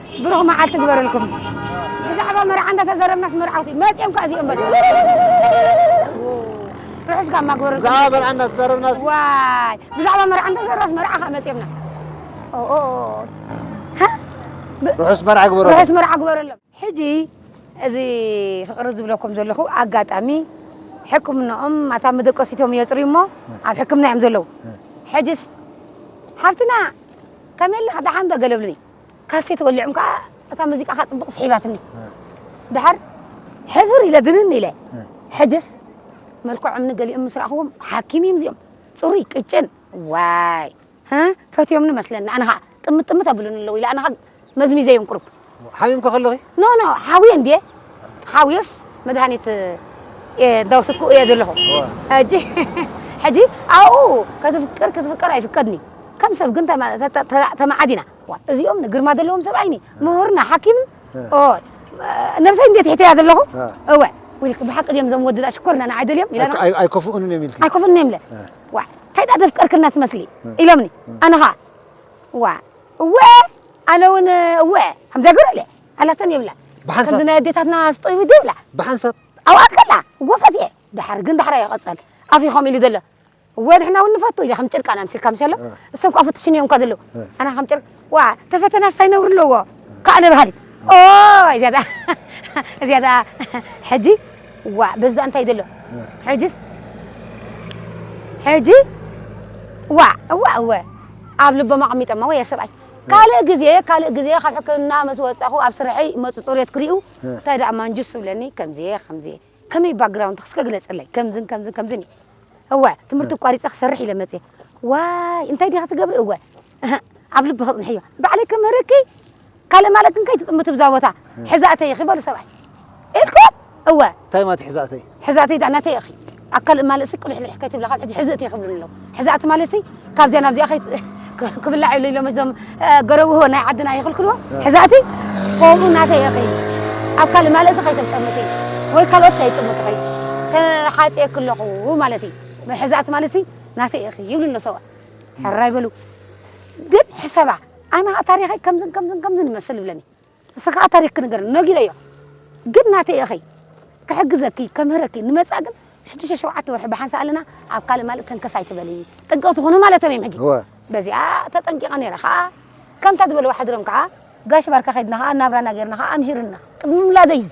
ብሩኽ መዓልቲ ግበረልኩም ብዛዕባ መርዓ እንዳተዘረብናስ መርዓውቲ መፅኦም ከዓ እዚኦም በሉ ርሑስ ጋማ ግበረልኩም ብዛዕባ መርዓ እንዳተዘረብናስ ዋይ ብዛዕባ መርዓ እንዳተዘረብናስ መርዓ ከዓ መፅኦምና ርሑስ መርዓ ግበረልኩም ርሑስ መርዓ ግበረሎም ሕጂ እዚ ፍቅሪ ዝብለኩም ዘለኹ ኣጋጣሚ ሕክምናኦም ኣታ መደቀሲቶም የፅርዩ እሞ ኣብ ሕክምና እዮም ዘለዉ ሕጅስ ሓፍትና ከመይ ኣለኻ ደሓን ዶ ገለብልኒ ካሴት ወሊዖም ከዓ እታ ሙዚቃኻ ፅቡቕ ስሒባትኒ ደሓር ሕፍር ኢለ ግንን ኢለ ሕጅስ መልክዖምኒ ገሊኦም ምስ ረኣኽዎም ሓኪም እዮም እዚኦም ፅሩይ ቅጭን ዋይ ፈትዮምኒ መስለኒ ኣነ ከዓ ጥምት ጥምት ኣብሉኒ ኣለዉ ኢለ ኣነ ከዓ መዝሚዘዮም ቁሩብ ሓሚምከ ከለኺ ኖ ኖ ሓውየ እንድየ ሓውየስ መድሃኒት እንዳወሰድኩ እየ ዘለኹ ሕጂ ሕጂ ኣብኡ ከትፍቅር ክትፍቀር ኣይፍቀድኒ ከም ሰብ ግን ተመዓዲና ዋእ እዚኦም ንግርማ ዘለዎም ሰብኣይኒ ምሁርና ሓኪምን ኦይ ነብሰይ እንዴት ሒተያ ዘለኹ እወ ዊልክ ብሓቂ ድዮም እዞም ወድዳ ሽኮርና ንዓይ ደልዮም ኢለና ኣይኮፍኡንን እዮም ኢልክ ኣይኮፍኡንን እዮም ኢለ ዋእ እንታይ ዳኣ ደፍቀርክና ትመስሊ ኢሎምኒ ኣነ ኸኣ ዋ እወ ኣነ እውን እወ ከምዚያ ገሩ ኢለ ኣላተን ይብላ ከምዚ ናይ ኣዴታትና ስጠይቡ ይብላ ብሓንሳብ ኣብኣ ከላ ጎፈት እየ ድሓር ግን ዳሕራ ይቐፀል ኣፍ ኢኹም ኢሉ ዘሎ እወ ንሕና እውን ንፈቱ ኢለ ከም ጭርቃን ኣምሲልካ ምሸሎ እሶም ከኣ ፍትሽን እዮም እኳ ዘለዉ ኣና ከም ጭርቅ ዋ ተፈተናስ ታይ ነውሪ ኣለዎ ከኣ ንበሃሊት ኦይ እዚኣ ደኣ እዚኣ ደኣ ሕጂ ዋ በዚ ደኣ እንታይ ዘሎ ሕጂስ ሕጂ ዋ እዋ እወ ኣብ ልቦም ኣቐሚጠማ ወየ ሰብኣይ ካልእ ግዜ ካልእ ግዜ ካብ ሕክምና ምስ ወጻኹ ኣብ ስርሐይ መጹ ጽሬት ክሪኡ እንታይ ደኣ ማንጁስ ዝብለኒ ከምዚ ከምዚ ከመይ ባግራውንድክ እስከ ግለጽለይ ከምዝን ከምዝን ከምዝን እዩ እወ ትምህርቲ ኣቋሪጸ ክሰርሕ ኢለ መጽየ ዋይ እንታይ ዲኺ ትገብሪ እወ እህ ኣብ ልቢ ክጽንሕዮ ባዕለይ ክምህርኪ ካልእ ማለት እንታይ ትጥምቲ ብዛ ቦታ ሕዛእተይ ኢኺ በሉ ሰብኣይ ኢልኩም እወ እንታይ ማለት ሕዛእተይ ሕዛእተይ ዳኣ ናተይ ኢኺ ኣብ ካልእ ማልእሲ ቅልሕልሕ ከይትብላ ካብ ሕጂ ሕዝእቲ ክብሉኒ ኣለዉ ሕዛእ ትማሊ ሲ ካብዚኣ ናብዚኣ ከይ ክብላዕ ኢሉ ኢሎም እዞም ገረብዎ ናይ ዓድና ይኽልክልዎ ሕዛእቲ ከምኡ ናተይ እኺ ኣብ ካልእ ማለእሲ ከይተጠምቲ ወይ ካልኦት ከይጥምቱ ኸይ ተሓፅየክ ኣለኹ ማለት እዩ ሕዛእቲ ማለት ሲ ናተይ እኺ ይብሉ ኣሎ ሰብኣ ሕራይ በሉ ግን ሕሰባ ኣነ ታሪኸይ ከምዝን ከምዝን ከምዝን ይመስል ይብለኒ ንስኺ ከኣ ታሪኽ ክንገርኒ ነጊረዮ ግን ናተይ እኺ ክሕግዘኪ ከምህረኪ ንመጻእ ግን ሽዱሽተ ሸውዓተ ወርሒ ብሓንሳእ ኣለና ኣብ ካልእ ማልእ ተንከስ ኣይትበሊ ጥንቅቕቲ ኩኑ ማለቶም እዮም ሕጂ እወ በዚኣ ተጠንቂቐ ነይረ ከኣ ከምታ ዝበልዋ ሓዲሮም ከኣ ጋሽ ባርካ ከድና ከኣ ናብራና ገርና ከኣ ኣምሂሩና ቅድሚ ምላደይ እዚ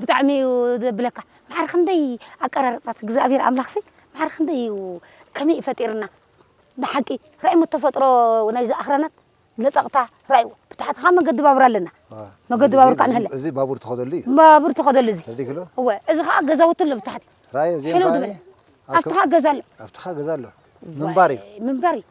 ብጣዕሚ እዩ ዘብለካ ማዕረ ክንደይ ኣቀራርፃ እግዝኣብሔር ኣምላክሲ ማዕረ ክንደይ እዩ ከመይ እዩ ፈጢርና ብሓቂ ራእይሞ ተፈጥሮ ናይዚ ኣኽራናት ለጠቕታ ራእይዎ ብታሕትኻ መገዲ ባቡር ኣለና መገዲ ባቡር ከዓ ንህለ እዚ ባቡር ትኸደሉ እዩ ባቡር ትኸደሉ እዚ ተርዲክሎ እወ እዚ ከዓ ገዛውቲ ኣሎ ብታሕቲ ራእይ እዚኦም ሕልው ባኒ ዝበለ ኣብትኻ ገዛ ኣሎ ኣብትኻ ገዛ ኣሎ ምንባር እዩ ምንባር እዩ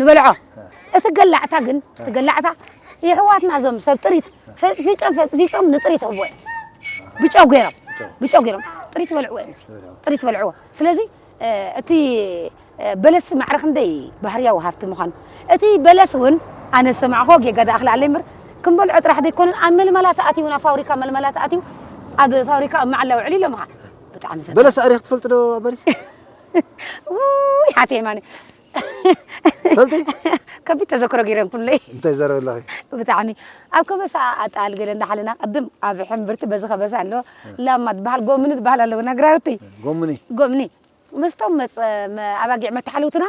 ንበልዖ እቲ ገላዕታ ግን እቲ ገላዕታ የሕዋትና እዞም ሰብ ጥሪት ፈጽፊጾም ፈጽፊጾም ንጥሪት ይህብዎ እዮም ብጨው ገይሮም ብጨው ገይሮም ጥሪት ይበልዕዎ እዮም ጥሪት ይበልዕዎ ስለዚ እቲ በለስ ማዕረ ክንደይ ባህርያዊ ሃፍቲ ምዃኑ እቲ በለስ እውን ኣነ ዝሰማዕኮ ጌጋ ደኣ ክልኣለ እምበር ክንበልዖ ጥራሕ ዘይኮነን ኣብ መልመላ ተኣትዩ ናብ ፋብሪካ መልመላ ተኣትዩ ኣብ ፋብሪካ ኣብ መዓላ ውዕል ኢሎምኻ ብጣዕሚ በለስ ኣሪኽ ትፈልጥ ዶ በለስ ውይ ሓቴ የማነ ሰልቲ ከቢድ ተዘክሮ ገይረ ኩለይ እንታይ ዘረብ ኣለኺ ብጣዕሚ ኣብ ከበሳ ኣጣል ገለ እንዳሓለና ቅድም ኣብ ሕምብርቲ በዚ ከበሳ ኣሎ ላማ ትበሃል ጎምኒ ትበሃል ኣለዎ ነግራውቲ ጎምኒ ጎምኒ ምስቶም መፅ ኣባጊዕ መተሓለውትና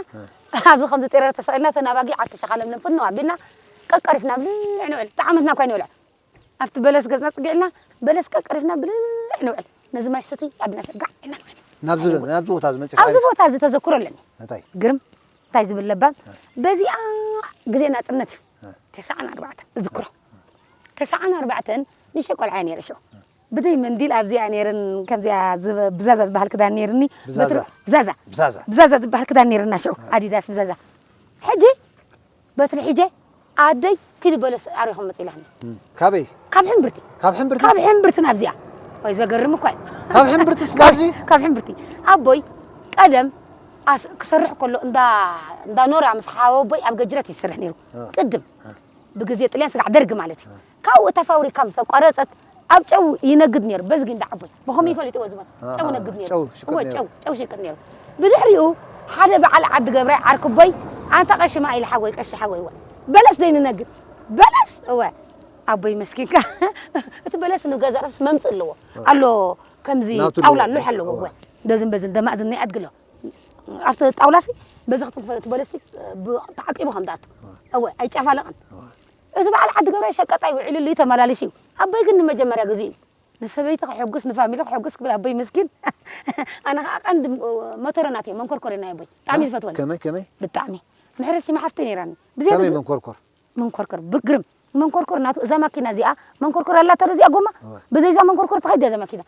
ኣብዚ ከምዚ ጤረር ተሰቂልና ተን ኣባጊዕ ኣብቲ ሸኻ ለምለም ፍንው ኣቢልና ቀቀሪፍና ብልዕ ንውዕል ጣዕመትና እኳ ይንበልዕ ኣብቲ በለስ ገጽና ጽጊዕልና በለስ ቀርቀሪፍና ብልዕ ንውዕል። ነዚ ማይ ሰትይ ኣቢልና ከኣ ጋዕ ኢልና ንውዕል። ናብዚ ናብዚ ቦታ እዚ መጺእካ ኣብዚ ቦታ እዚ ተዘክሮ ኣለኒ። እንታይ? ግርም እንታይ ዝብል ለባም በዚኣ ግዜ ናጽነት እዩ። ተሰዓን ኣርባዕተን እዝክሮ። ተሰዓን ኣርባዕተን ንእሽተይ ቆልዓ እየ ነይረ ሽዑ። ብዘይ መንዲል ኣብዚኣ እየ ነይርን ከምዚኣ ዝብ- ብዛዛ ዝበሃል ክዳን ነይርኒ። ብዛዛ? በትሪ- ብዛዛ ብዛዛ። ብዛዛ ዝበሃል ክዳን ነይርና ሽዑ ኣዲዳስ ብዛዛ። ሕጂ በትሪ ሒጀ ኣደይ ኪዲ በለስ ኣሪኹ ምፅ ኢላኒ። ካበይ? ካብ ሕምብርቲ። ካብ ሕምብርቲ? ካብ ሕምብርቲ ናብዚኣ። ወይ ዘገርም እኳ እዩ። ካብ ሕምብርትስ ናብዚ? ካብ ሕምብርቲ። ኣቦይ ቀደም ክሰርሕ ከሎ እንዳ እንዳ ኖራ ምስ ሓወቦይ ኣብ ገጅረት ይሰርሕ ነይሩ። ቅድም ብግዜ ጥልያን ስጋዕ ደርጊ ማለት እዩ። ካብኡ እታ ፋውሪካ ምሰ ቋረጸት ኣብ ጨው ይነግድ ነይሩ በዚ ጊንዳዕ ኣቦይ ብኸመይ ፈሊጥዎ እዚ ቦታ ጨው ይነግድ ነይሩ እወ ጨው ጨው ይሽቅጥ ነይሩ ብድሕሪኡ ሓደ በዓል ዓዲ ገብራይ ዓርኪ ኣቦይ ኣንታ ቀሺ ማኢል ሓጎይ ቀሺ ሓጎይ እወ በለስ ደይ ንነግድ በለስ እወ ኣቦይ መስኪንካ እቲ በለስ ንገዛ ርእሱስ መምጽእ ኣለዎ ኣሎ ከምዚ ጣውላ ሎሕ ኣለዎ እወ በዝን በዝን ደማእ ዝን ናይ ኣድጊ ኣሎ ኣብቲ ጣውላሲ በዚ ክትንክፈ እቲ በለስቲ ተዓቂቡ ከም ዝኣቱ እወ ኣይጨፋለቕን እዚ በዓል ዓዲ ገብራይ ሸቀጣይ ውዒሉሉ እዩ ተመላሊሱ እዩ ኣቦይ ግን ንመጀመርያ ግዚኡ እዩ ንሰበይቲ ከሐጉስ ንፋሚሊ ከሐጉስ ክብል ኣቦይ መስኪን ኣነ ከኣ ቀንዲ መቶረ ናተይ መንኮርኮር እዩ ናይ ኣቦይ ብጣዕሚ ዝፈትወኒ ከመይ ከመይ ብጣዕሚ ምሕረት ሲማ ሓፍተይ ነይራኒ ብዝያዳ ከመይ መንኮርኮር መንኮርኮር ብግርም መንኮርኮር ናቱ እዛ ማኪና እዚኣ መንኮርኮር ኣላታ ዶ እዚኣ ጎማ ብዘይ እዛ መንኮርኮር ትኸይድ ድያ እዛ ማኪና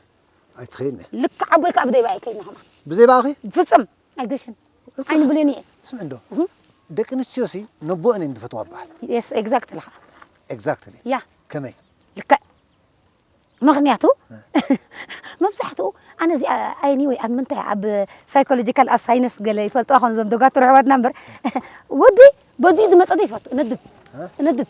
ኣይትኸይድን እያ ልክዕ ኣቦይ ከኣ ብዘይ በኣ ኣይከይድን ከማን ብዘይ በኣኺ ፍጽም ኣይገሽን ዓይኒ ብሌን እየ። ስምዒ እንዶ ደቂ ኣንስትዮሲ ነቦኣን እየን ዝፈትዋ ይበሃል። የስ ኤግዛክትሊ ከኣ ኤግዛክትሊ ያ ከመይ? ልክዕ ምኽንያቱ መብዛሕትኡ ኣነ እዚኣ ኣይኒ ወይ ኣብ ምንታይ ኣብ ሳይኮሎጂካል ኣብ ሳይነስ ገለ ይፈልጥዋ ኾን እዞም ዶጋትር ኣሕዋትና እምበር ወዲ በዲኡ ዝመጸ ዘይትፈቱ እነድድ እነድድ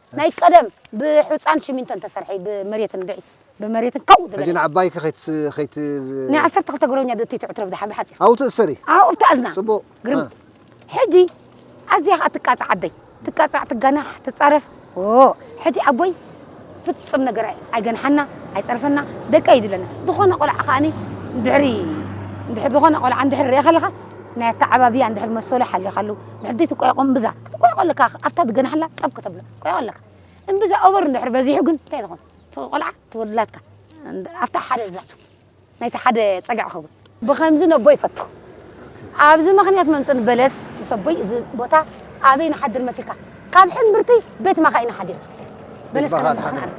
ናይ ቀደም ብሑጻን ሽሚንቶን ተሰርሒ ብመሬት እንድዒ ብመሬትን ካው ዝበለ። ሕጂ ንዓባይኪ ከይት ከይት። ናይ ዓሰርተ ክልተ ግሮኛ ዶ እትይ ትዕትሮ ብደሓን ብሓጺር። ኣብኡ ትእሰሪ። ኣብኡ ትኣዝና። ጽቡቕ። ግርምቲ ሕጂ ኣዝያ ከኣ ትቃጻዕ ኣደይ ትቃጻዕ ትጋናሕ ትጻረፍ ኦ ሕጂ ኣቦይ ፍጹም ነገር ኣይገንሓና ኣይጸርፈና ደቀይ እዩ ዝብለና ዝኾነ ቆልዓ ከኣኒ ድሕሪ እንድሕር ዝኾነ ቆልዓ እንድሕር ርኢኻ ኣለኻ ናይ ኣተዓባብያ እንድሕር መሰሉ ሓሊኻሉ ድሕዲ ትቆየቆ እምብዛ ክትቆየቆ ኣለካ ኣብታ ትገናሓላ ጠብ ከተብሎ ቆየቆ ኣለካ እምብዛ ኦቨር እንድሕር በዚሑ ግን እንታይ ትኾን እቲ ቆልዓ እቲ ወዲ ላትካ ኣብታ ሓደ እዛቱ ናይቲ ሓደ ፀግዕ ክኸውን ብከምዚ ነቦይ ይፈቱ ኣብዚ ምክንያት መምፅን በለስ ምስ ኣቦይ እዚ ቦታ ኣበይ ንሓድር መሲልካ ካብ ሕምብርቲ ቤት መኻኢ ንሓድር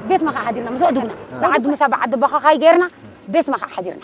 ቤት መኻኢ ሓዲርና ምስ ኣድጉና ብዓዲ ሙሳ ብዓዲ ቦኻኻይ ገይርና ቤት መኻኢ ሓዲርና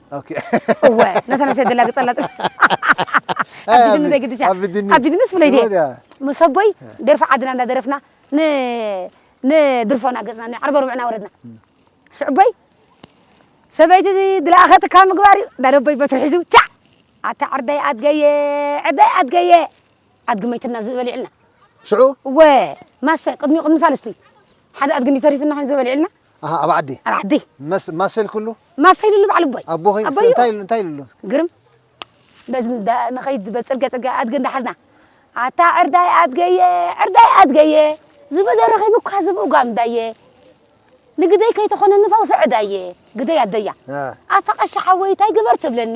ኦኬ እወ ነታ ነብሰይ ደላግጸላ ጥል ኣቢድኒ ዘይግድሻ ኣቢድኒ። ኣቢድንስ ብለይ ድየ ስሞት እያ። ምስ ኣቦይ ደርፊ ዓድና እንዳደረፍና ን ንድርፎና ገጽና ንዓርበ ርብዕና ወረድና ሽዑ ኣቦይ ሰበይቲ ድለኣኸትካ ምግባር እዩ እንዳለ ኣቦይ በትሪ ሒዙ ቻዕ ኣታ ዕርደይ ኣድገየ ዕርደይ ኣድገየ ኣድጊ መይትና ዝእ በሊዕልና ሽዑ እወ ማሰ ቅድሚኡ ቅድሚ ሳልስቲ ሓደ ኣድጊ እንዲ ተሪፍና ኮይኑ ዝበሊዕልና ኣሃ ኣብ ዓዲ ኣብ ዓዲ መስ ማሰል ኩሉ ማሰል ኢሉ ባዕሉ ኣቦይ ኣቦኺ ኣቦይ እንታይ ኢሉ እንታይ ኢሉ ግርም በዚ ንኸይድ በዚ ፅርግያ ፅርግያ ኣድገ እንዳሓዝና ኣታ ዕርዳይ ኣድገየ ዕርዳይ ኣድገየ ዝበደ ረኺቡ እኳ ዝብኡ ጋምዳየ ንግደይ ከይተኾነኒ ፈውሲ ዕዳየ ግደይ ኣደያ ኣታ ቀሺ ሓወይ እንታይ ግበር ትብለኒ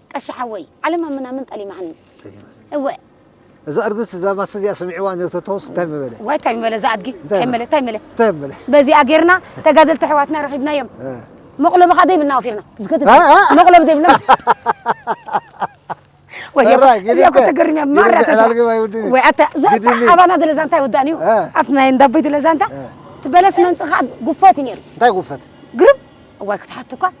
ቀሺ ሓወይ ዓለም ኣብ ምናምን ጠሊማትኒ እወ። እዛ እርግስ እዛ ማስክ እዚኣ ስሚዕዋ ነርተቶስ ታይ ምበለ። ዋይ ታይ ምበለ እዛ ኣድጊ ታይ መለ ታይ መለ ታይ መለ። በዚኣ ጌርና ተጋደልቲ ኣሕዋትና ረኺብናዮም መቕለቢ ኸኣ ዘይብልና ወፊርና ዝከተት መቕለቢ ዘይብልና ኣባና ደለ ዛንታ ይወዳእን እዩ ኣብቲ ናይ እንዳቦይ ደለ ዛንታ እቲ በለስ መምፅእ ከዓ ጉፈት እዩ ነይሩ እንታይ ጉፈት ግርም እዋይ ክትሓቱ እኳ